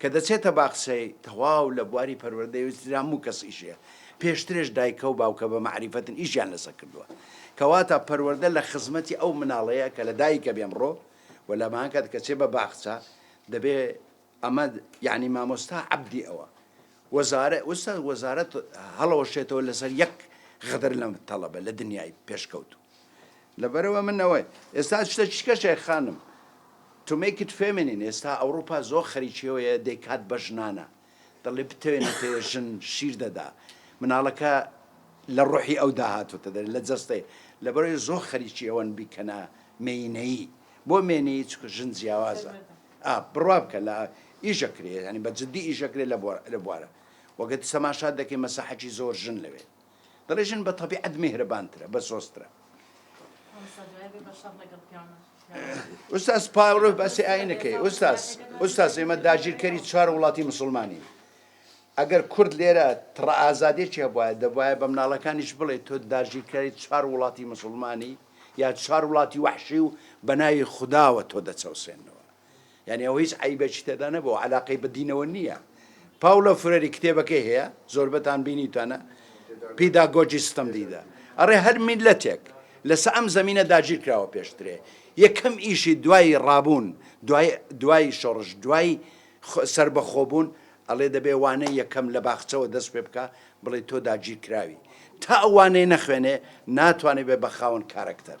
کە دەچێتە باخچەی تەواو لە بواری پەروەردەی و ئیتر هەموو کەسیشێ پێشترێش دایکە و باوکە بە مەعریفەتن ئیشیان لەسە کردووە کەواتە پەروەردە لە خزمەتی ئەو مناڵەیە کە لە دایکە بێ ئەمڕۆ و لە ماکات کە چێ بە باخچە دەبێ ئەمە یانی مامۆستا عەبدی ئەوە وەزارە ئوستاز وەزارەت هەڵەوەشێتەوە لەسەر یەک غەدر لەم تەڵەبە لە دنیای پێشکەوتوو لەبەرئەوە من ئەوە ئێستا شتە چیکە شێخ خانم To make it feminine ئێستا ئەوڕوپا زۆر خەریکی ئەوەیە دەیکات بە ژنانە دەڵێ بتەوێ نەتەوێ ژن شیر دەدا مناڵەکە لە ڕۆحی ئەودا هاتۆتە دەرێ لە جەستەی لەبەرئەوەی زۆر خەریکی ئەوەن بیکەنە مێینەیی بۆ مێینەیی چونکە ژن جیاوازە ئا بڕوا بکە لە ئیش ئەکرێ یانی بە جدی ئیش ئەکرێ لە بوارە وەگەرد تەماشات دەکەی مەسەحەکی زۆر ژن لەوێ دەڵێ ژن بە تەبیعەت میهرەبانترە بە سۆزترە ئوستاز پاوەڕۆ باسی ئاینەکەی ئوستاز ئوستاز ئێمە داگیرکەری چوار وڵاتی مسلمانی ئەگەر کورد لێرە تڕە ئازادێکی هەبواە دەبواە بە مناڵەکانیش بڵێ تۆ داگیرکاری چوار وڵاتی مسلمانی یا چوار وڵاتی وحشی و بەناوی خداوە تۆ دەچەوسێنەوە یانی ئەوە هیچ عەیبێکی تێدا نەبوو و عەلاقەی بە دینەوە نییە. پاوڵۆ فرێری کتێبەکەی هەیە، زۆربەتان بینیوتانە، پیداگۆجی ستەمدیدە. ئەڕێ هەر میللەتێک لەسە ئەم زەمینە داگیر کراوە پێشترێ یەکەم ئیشی دوای ڕابوون، دوای دوای شۆڕش، دوای سەربەخۆبوون ئەڵێ دەبێ وانەی یەکەم لە باخچەوە دەست پێ بکا بڵێ تۆ داگیر کراوی. تا ئەو وانەیە نەخوێنێ ناتوانێ بێ بە خاوەن کارەکتەر.